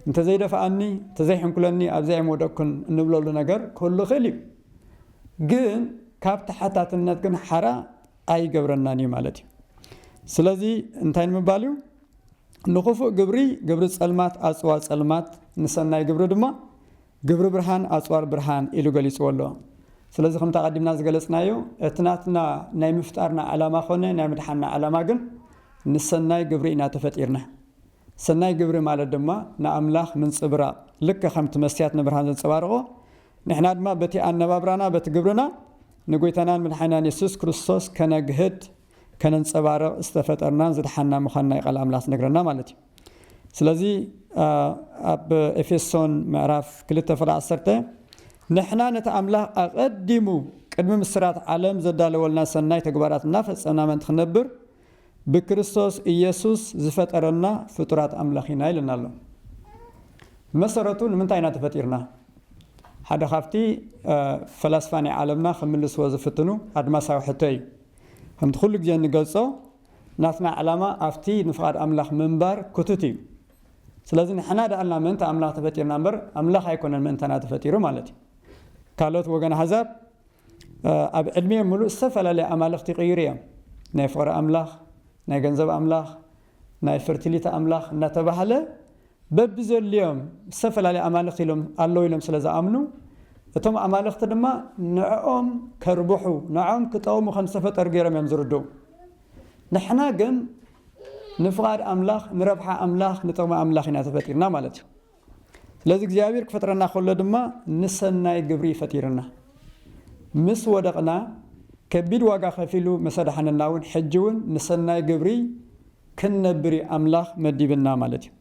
እንተዘይደፍኣኒ ተዘይሕንኩለኒ ኣብዚ ኣይምወደቅኩን እንብለሉ ነገር ክህሉ ይኽእል እዩ። ግን ካብ ተሓታትነት ግን ሓራ ኣይገብረናን እዩ ማለት እዩ። ስለዚ እንታይ ንምባል እዩ ንኽፉእ ግብሪ ግብሪ ጸልማት ኣጽዋር ጸልማት ንሰናይ ግብሪ ድማ ግብሪ ብርሃን ኣጽዋር ብርሃን ኢሉ ገሊጽዎ ኣሎ። ስለዚ ከምቲ ኣቐዲምና ዝገለጽናዮ እቲ ናትና ናይ ምፍጣርና ዓላማ ኮነ ናይ ምድሓንና ዓላማ ግን ንሰናይ ግብሪ ኢና ተፈጢርና። ሰናይ ግብሪ ማለት ድማ ንኣምላኽ ምንጽብራቕ፣ ልክዕ ከምቲ መስትያት ንብርሃን ዘንጸባርቖ፣ ንሕና ድማ በቲ ኣነባብራና በቲ ግብርና ንጐይታናን መድሓኒናን የሱስ ክርስቶስ ከነግህድ፣ ከነንጸባርቕ፣ ዝተፈጠርናን ዝደሓንና ምዃንና እዩ ቃል ኣምላኽ ዝነግረና ማለት እዩ። ስለዚ ኣብ ኤፌሶን ምዕራፍ ክልተ ፍቕዲ ዓሰርተ ንሕና ነቲ ኣምላኽ ኣቐዲሙ ቅድሚ ምስራት ዓለም ዘዳለወልና ሰናይ ተግባራት እናፈጸምና ምእንቲ ክንነብር፣ ብክርስቶስ ኢየሱስ ዝፈጠረና ፍጡራት ኣምላኽ ኢና ኢሉና ኣሎ። ብመሰረቱ ንምንታይ ኢና ተፈጢርና? ሓደ ካብቲ ፈላስፋ ናይ ዓለምና ክምልስዎ ዝፍትኑ ኣድማሳዊ ሕቶ እዩ። ከምቲ ኩሉ ግዜ እንገልጾ ናትና ዕላማ ኣብቲ ንፍቓድ ኣምላኽ ምንባር ክቱት እዩ። ስለዚ ንሕና ድኣልና ምእንቲ ኣምላኽ ተፈጢርና እምበር ኣምላኽ ኣይኮነን ምእንታና ተፈጢሩ ማለት እዩ። ካልኦት ወገን ኣህዛብ ኣብ ዕድሜኦም ምሉእ ዝተፈላለየ ኣማልኽቲ ይቕይሩ እዮም። ናይ ፍቕሪ ኣምላኽ፣ ናይ ገንዘብ ኣምላኽ፣ ናይ ፈርቲሊቲ ኣምላኽ እናተባህለ በብዘድልዮም ዝተፈላለየ ኣማልኽቲ ኢሎም ኣለዉ ኢሎም ስለ ዝኣምኑ እቶም ኣማልኽቲ ድማ ንዕኦም ከርብሑ ንዕኦም ክጠቕሙ ከም ዝተፈጠሩ ገይሮም እዮም ዝርድኡ። ንሕና ግን ንፍቓድ ኣምላኽ፣ ንረብሓ ኣምላኽ፣ ንጥቕሚ ኣምላኽ ኢና ተፈጢርና ማለት እዩ። ስለዚ እግዚኣብሔር ክፈጥረና ከሎ ድማ ንሰናይ ግብሪ እዩ ፈጢርና። ምስ ወደቕና ከቢድ ዋጋ ከፊሉ ምስ ኣድሓነና እውን ሕጂ እውን ንሰናይ ግብሪ ክንነብር እዩ ኣምላኽ መዲብና ማለት እዩ።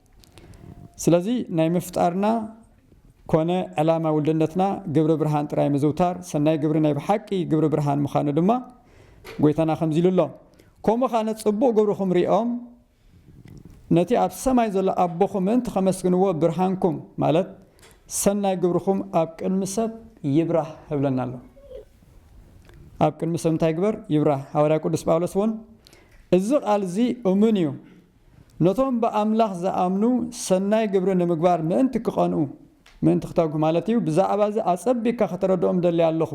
ስለዚ ናይ ምፍጣርና ኮነ ዕላማ ውልድነትና ግብሪ ብርሃን ጥራይ ምዝውታር፣ ሰናይ ግብሪ ናይ ብሓቂ ግብሪ ብርሃን ምዃኑ ድማ ጎይታና ከምዚ ኢሉ ኣሎ፣ ከምኡ ኻነ ጽቡቕ ግብርኹም ሪኦም ነቲ ኣብ ሰማይ ዘሎ ኣቦኹም ምእንቲ ኸመስግንዎ ብርሃንኩም ማለት ሰናይ ግብርኹም ኣብ ቅድሚ ሰብ ይብራህ ህብለና ኣሎ። ኣብ ቅድሚ ሰብ እንታይ ግበር ይብራህ። ሃዋርያ ቅዱስ ጳውሎስ እውን እዚ ቃል እዚ እሙን እዩ ነቶም ብኣምላኽ ዝኣምኑ ሰናይ ግብሪ ንምግባር ምእንቲ ክቐንኡ ምእንቲ ክተግሁ ማለት እዩ ብዛዕባ እዚ ኣጸቢካ ከተረድኦም ደልያ ኣለኹ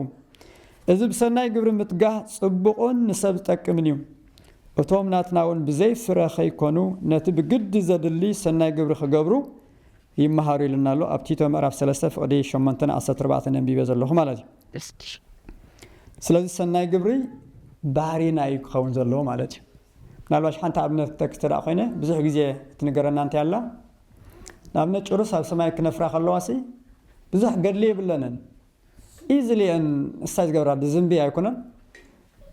እዚ ብሰናይ ግብሪ ምትጋህ ጽቡቕን ንሰብ ዝጠቅምን እዩ እቶም ናትና'ውን ብዘይ ፍረ ከይኮኑ ነቲ ብግዲ ዘድሊ ሰናይ ግብሪ ክገብሩ ይመሃሩ ኢሉና ኣሎ ኣብ ቲቶ ምዕራፍ ሰለስተ ፍቕዲ ሸሞንተ ን ዓሰርተ ኣርባዕተ ን ኣንቢበ ዘለኹ ማለት እዩ። ስለዚ ሰናይ ግብሪ ባህሪና እዩ ክኸውን ዘለዎ ማለት እዩ። ምናልባሽ ሓንቲ ኣብነት ክጠቅስ እንተደኣ ኮይነ ብዙሕ ግዜ እትንገረና እንታይ ኣላ ንኣብነት ጭሩስ ኣብ ሰማይ ክነፍራ ከለዋሲ ብዙሕ ገድሊ የብለንን ኢዝሊየን እሳ ዝገብራ ብዝንቢ ኣይኮነን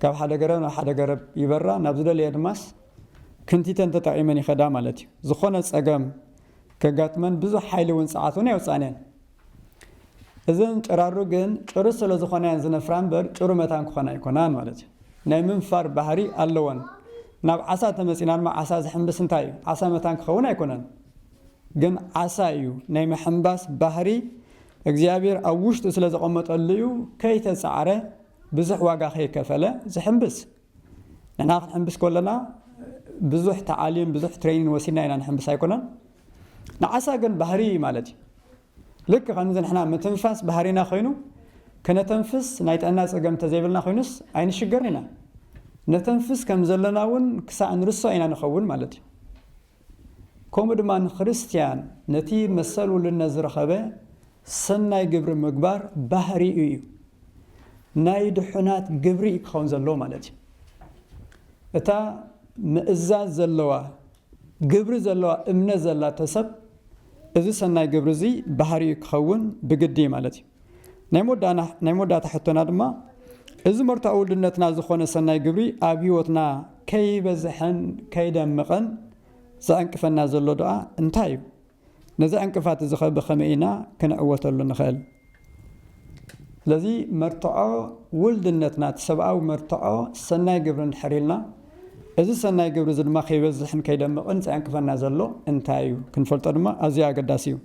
ካብ ሓደ ገረብ ናብ ሓደ ገረብ ይበራ ናብ ዝደለየ ድማስ ክንቲተን ተጠቒመን ይኸዳ ማለት እዩ ዝኾነ ጸገም ከጋጥመን ብዙሕ ሓይሊ እውን ጸዓት እውን የውጽኣን እየን እዘን ጭራሩ ግን ጭሩ ስለ ዝኾና እየን ዝነፍራ እምበር ጭሩ መታን ክኾና ኣይኮናን ማለት እዩ ናይ ምንፋር ባህሪ ኣለወን ናብ ዓሳ ተመጺና ድማ ዓሳ ዝሕንብስ እንታይ እዩ ዓሳ መታን ክኸውን ኣይኮነን ግን ዓሳ እዩ ናይ ምሕንባስ ባህሪ እግዚኣብሔር ኣብ ውሽጡ ስለ ዘቐመጠሉ እዩ ከይተጻዕረ ብዙሕ ዋጋ ከይከፈለ ዝሕንብስ። ንሕና ክንሕንብስ ከሎና ብዙሕ ተዓሊም ብዙሕ ትሬኒን ወሲድና ኢና ንሕንብስ ኣይኮነን። ንዓሳ ግን ባህሪ እዩ ማለት እዩ። ልክ ከምዚ ንሕና ምትንፋስ ባህሪና ኮይኑ ክነተንፍስ ናይ ጥዕና ጸገም እንተዘይብልና ኮይኑስ ኣይንሽገርን ኢና። ነተንፍስ ከም ዘለና እውን ክሳዕ ንርሶ ኢና ንኸውን ማለት እዩ። ከምኡ ድማ ንክርስትያን ነቲ መሰል ውልነት ዝረኸበ ሰናይ ግብሪ ምግባር ባህሪኡ እዩ፣ ናይ ድሑናት ግብሪ እዩ ክኸውን ዘለዎ ማለት እዩ። እታ ምእዛዝ ዘለዋ ግብሪ ዘለዋ እምነት ዘላቶ ሰብ እዚ ሰናይ ግብሪ እዚ ባህሪኡ ክኸውን ብግዲ እዩ ማለት እዩ። ናይ መወዳእና ናይ መወዳእታ ሕቶና ድማ እዚ መርትዖ ውልድነትና ዝኾነ ሰናይ ግብሪ ኣብ ህይወትና ከይበዝሐን ከይደምቐን ዘዕንቅፈና ዘሎ ድኣ እንታይ እዩ? ነዚ ዕንቅፋት እዚ ኸ ብኸመይ ኢና ክንዕወተሉ ንኽእል? ስለዚ መርትዖ ውልድነትና እቲ ሰብኣዊ መርትዖ ሰናይ ግብሪ እንድሕር ኢልና እዚ ሰናይ ግብሪ እዚ ድማ ከይበዝሕን ከይደምቕን ዘዕንቅፈና ዘሎ እንታይ እዩ ክንፈልጦ ድማ ኣዝዩ ኣገዳሲ እዩ።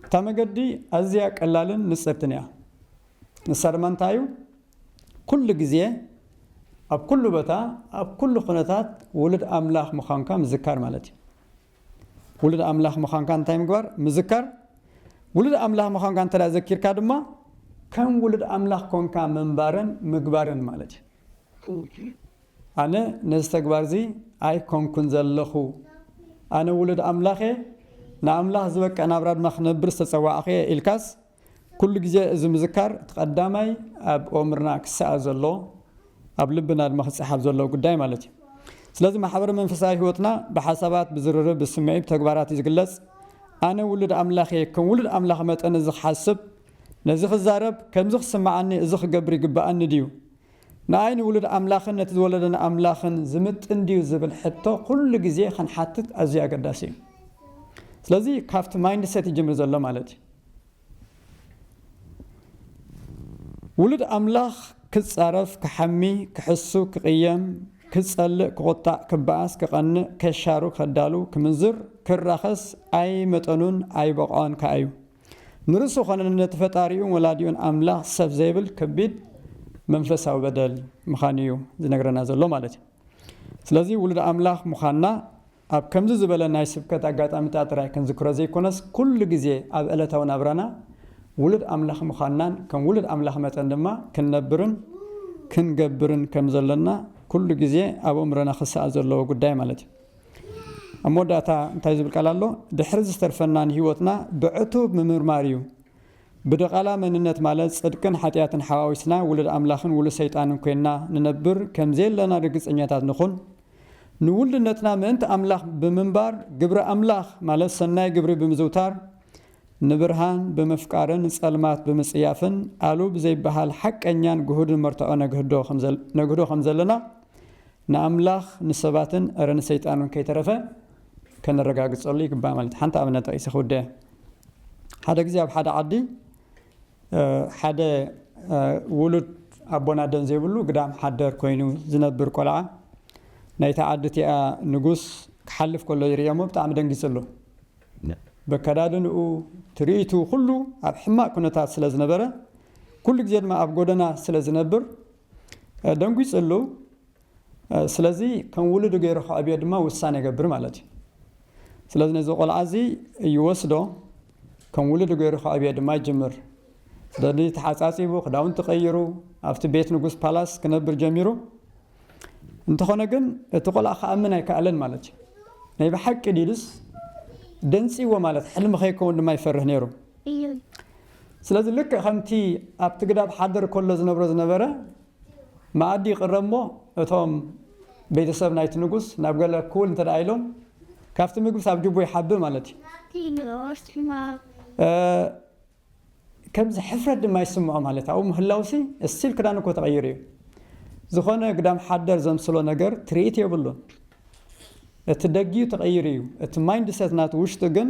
እታ መገዲ ኣዝያ ቀላልን ንጽርትን እያ። ንሳ ድማ እንታይ እዩ? ኩሉ ግዜ ኣብ ኩሉ ቦታ ኣብ ኩሉ ኩነታት ውሉድ ኣምላኽ ምዃንካ ምዝካር ማለት እዩ። ውሉድ ኣምላኽ ምዃንካ እንታይ ምግባር? ምዝካር። ውሉድ ኣምላኽ ምዃንካ እንተ ዘኪርካ ድማ ከም ውሉድ ኣምላኽ ኮንካ ምንባርን ምግባርን ማለት እዩ። ኣነ ነዚ ተግባር እዚ ኣይኮንኩን ዘለኹ። ኣነ ውሉድ ኣምላኽ እየ፣ ንኣምላኽ ዝበቅዕ ናብራ ድማ ክነብር ዝተጸዋዕኩ እየ ኢልካስ፣ ኩሉ ግዜ እዚ ምዝካር እቲ ቀዳማይ ኣብ ኦምርና ክሰኣል ዘለዎ፣ ኣብ ልብና ድማ ክጸሓፍ ዘለዎ ጉዳይ ማለት እዩ። ስለዚ ማሕበረ መንፈሳዊ ሕይወትና ብሓሳባት፣ ብዝርርብ፣ ብስምዒት፣ ብተግባራት እዩ ዝግለጽ። ኣነ ውሉድ ኣምላኽ እየ፣ ከም ውሉድ ኣምላኽ መጠን እዚ ክሓስብ፣ ነዚ ክዛረብ፣ ከምዚ ክስምዓኒ፣ እዚ ክገብር ይግብኣኒ ድዩ? ንኣይ ንውሉድ ኣምላኽን ነቲ ዝወለደና ኣምላኽን ዝምጥን ድዩ ዝብል ሕቶ ኩሉ ግዜ ክንሓትት ኣዝዩ ኣገዳሲ እዩ። ስለዚ ካብቲ ማይንድሰት ይጅምር ዘሎ ማለት እዩ። ውሉድ ኣምላኽ ክጻረፍ፣ ክሓሚ፣ ክሕሱ፣ ክቕየም፣ ክጸልእ፣ ክቑጣዕ፣ ክበኣስ፣ ክቐንእ፣ ከሻሩ፣ ከዳሉ፣ ክምንዝር፣ ክራኸስ ኣይ መጠኑን ኣይ ቦቕዖን ከኣ እዩ። ንርእሱ ዀነ ነቲ ፈጣሪኡን ወላዲኡን ኣምላኽ ሰብ ዜብል ከቢድ መንፈሳዊ በደል ምዃኑ እዩ ዚነግረና ዘሎ ማለት እዩ። ስለዚ፣ ውሉድ ኣምላኽ ምዃንና ኣብ ከምዚ ዝበለ ናይ ስብከት ኣጋጣሚታት ጥራይ ክንዝክሮ ዘይኰነስ፣ ኵሉ ግዜ ኣብ ዕለታዊ ናብራና ውሉድ ኣምላኽ ምዃንናን ከም ውሉድ ኣምላኽ መጠን ድማ ክንነብርን ክንገብርን ከም ዘሎና ኵሉ ግዜ ኣብ ኣእምሮና ኺሰኣል ዘለዎ ጕዳይ ማለት እዩ። ኣብ መወዳእታ እንታይ ዝብል ቃል ኣሎ? ድሕሪ ዝተርፈና ንህይወትና ብዕቱብ ምምርማር እዩ። ብድቓላ መንነት ማለት ጽድቅን ሓጢኣትን ሓዋዊስና ውሉድ ኣምላኽን ውሉድ ሰይጣንን ኮይንና ንነብር ከም ዘየለና ርግጸኛታት ንኹን። ንውሉድነትና ምእንቲ ኣምላኽ ብምንባር ግብሪ ኣምላኽ ማለት ሰናይ ግብሪ ብምዝውታር ንብርሃን ብምፍቃርን ጸልማት ብምጽያፍን ኣሉ ብዘይበሃል ሓቀኛን ግሁድን መርትዖ ነግህዶ ከም ዘለና ንኣምላኽ ንሰባትን እረ ንሰይጣን እውን ከይተረፈ ከነረጋግጸሉ ይግባእ ማለት እዩ። ሓንቲ ኣብነት ጠቒሰ ክውድእ እየ። ሓደ ግዜ ኣብ ሓደ ዓዲ ሓደ ውሉድ ኣቦን ኣደን ዘይብሉ ግዳም ሓደር ኮይኑ ዝነብር ቆልዓ ናይታ ዓዲ እቲኣ ንጉስ ክሓልፍ ከሎ ይርእዮሞ ብጣዕሚ ደንጊጹ ኣሎ። በከዳድንኡ ትርኢቱ ኩሉ ኣብ ሕማቕ ኩነታት ስለ ዝነበረ ኩሉ ግዜ ድማ ኣብ ጎደና ስለ ዝነብር ደንጒጽሉ ስለዚ ከም ውሉዱ ገይሩ ከዕብዮ ድማ ውሳነ ይገብር ማለት እዩ። ስለዚ ነዚ ቆልዓ እዚ ይወስዶ ከም ውሉዱ ገይሩ ከዕብዮ ድማ ይጅምር። ስለዚ ተሓጻጺቡ ክዳውንቲ ቀይሩ ኣብቲ ቤት ንጉስ ፓላስ ክነብር ጀሚሩ። እንተኾነ ግን እቲ ቆልዓ ክኣምን ኣይከኣለን ማለት እዩ። ናይ ብሓቂ ድዩስ ደንጽይዎ ማለት ሕልሚ ከይከውን ድማ ይፈርህ ነይሩ። እዩ። ስለዚ ልክዕ ከምቲ ኣብቲ ግዳብ ሓደር ከሎ ዝነብሮ ዝነበረ፣ መኣዲ ይቕረብ እሞ እቶም ቤተሰብ ናይቲ ንጉስ ናብ ገለ ክውል እንተ ደኣ ኢሎም፣ ካብቲ ምግብስ ኣብ ጅቡ ይሓብእ ማለት እዩ። ናብቲ ንኡስ ሕማቕ። ከምዚ ሕፍረት ድማ ይስምዖ ማለት ኣብኡ ምህላውሲ እስቲል ክዳኑ እኮ ተቐይሩ እዩ። ዝኾነ ግዳም ሓደር ዘምስሎ ነገር ትርኢት የብሉን። እቲ ደጊኡ ተቐይሩ እዩ፣ እቲ ማይንድሰት ናቱ ውሽጡ ግን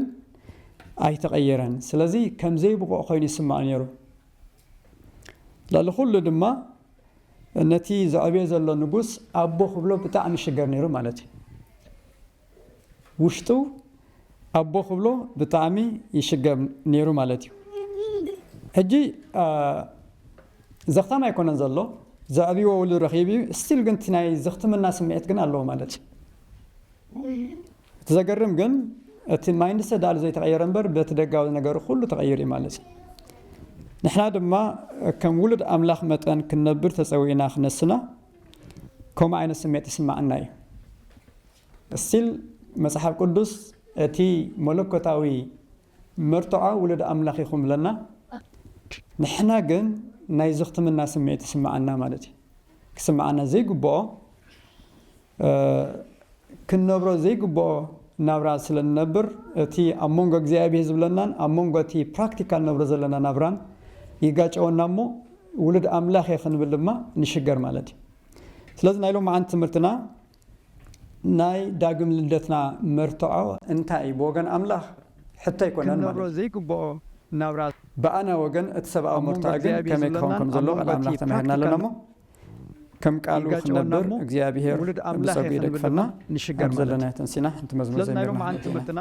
ኣይተቐየረን። ስለዚ ከም ዘይብቑዕ ኮይኑ ይስምዖ ነይሩ። ልዕሊ ኹሉ ድማ ነቲ ዘዕብዮ ዘሎ ንጉስ ኣቦ ክብሎ ብጣዕሚ ይሽገር ነይሩ ማለት እዩ። ውሽጡ ኣቦ ክብሎ ብጣዕሚ ይሽገር ነይሩ ማለት እዩ ሕጂ ዘኽታም ኣይኮነን ዘሎ ዘዕብዎ ውሉ ረኺቡ እዩ ስቲል ግን እቲ ናይ ዘኽትምና ስምዒት ግን ኣለዎ ማለት እዩ እቲ ዘገርም ግን እቲ ማይንድሰት ዳኣሉ ዘይተቐየረ እምበር በቲ ደጋዊ ነገሩ ኩሉ ተቐይሩ እዩ ማለት እዩ። ንሕና ድማ ከም ውሉድ ኣምላኽ መጠን ክንነብር ተጸዊእና ክነስና ከምኡ ዓይነት ስሜት ይስማዓና እዩ። እስቲል መጽሓፍ ቅዱስ እቲ መለኮታዊ መርትዖ ውሉድ ኣምላኽ ኢኹም እብለና ንሕና ግን ናይ ዝኽትምና ስምዒት ይስማዓና ማለት እዩ። ክስማዓና ዘይግብኦ ክንነብሮ ዘይግብኦ ናብራ ስለ ንነብር እቲ ኣብ መንጎ እግዚኣብሔር ዝብለናን ኣብ መንጎ እቲ ፕራክቲካል ንነብሮ ዘለና ናብራን ይጋጨወና እሞ ውሉድ ኣምላኽ እየ ክንብል ድማ ንሽገር ማለት እዩ። ስለዚ ናይ ሎምዓንቲ ትምህርትና ናይ ዳግም ልደትና መርትዖ እንታይ እዩ ብወገን ኣምላኽ ሕቶ ኣይኮነን ማለት ክንነብሮ እዩ። ዘይግብኦ ናብራ። ብኣና ወገን እቲ ሰብኣዊ ኣብ መንጎ መርትዖ ግን እግዚኣብሔር ከመይ ክኸውን ዝብለናን ከም ኣብ ዘለዎ መንጎ ቃል ኣምላኽ እቲ ተማሂርና ኣለና ፕራክቲካል እሞ ከም ቃሉ ክንነብር እግዚኣብሄር ብጸጉ ይደግፈና ኣብ ዘለና ተንሲና ሓንቲ መዝሙር ዘሚርና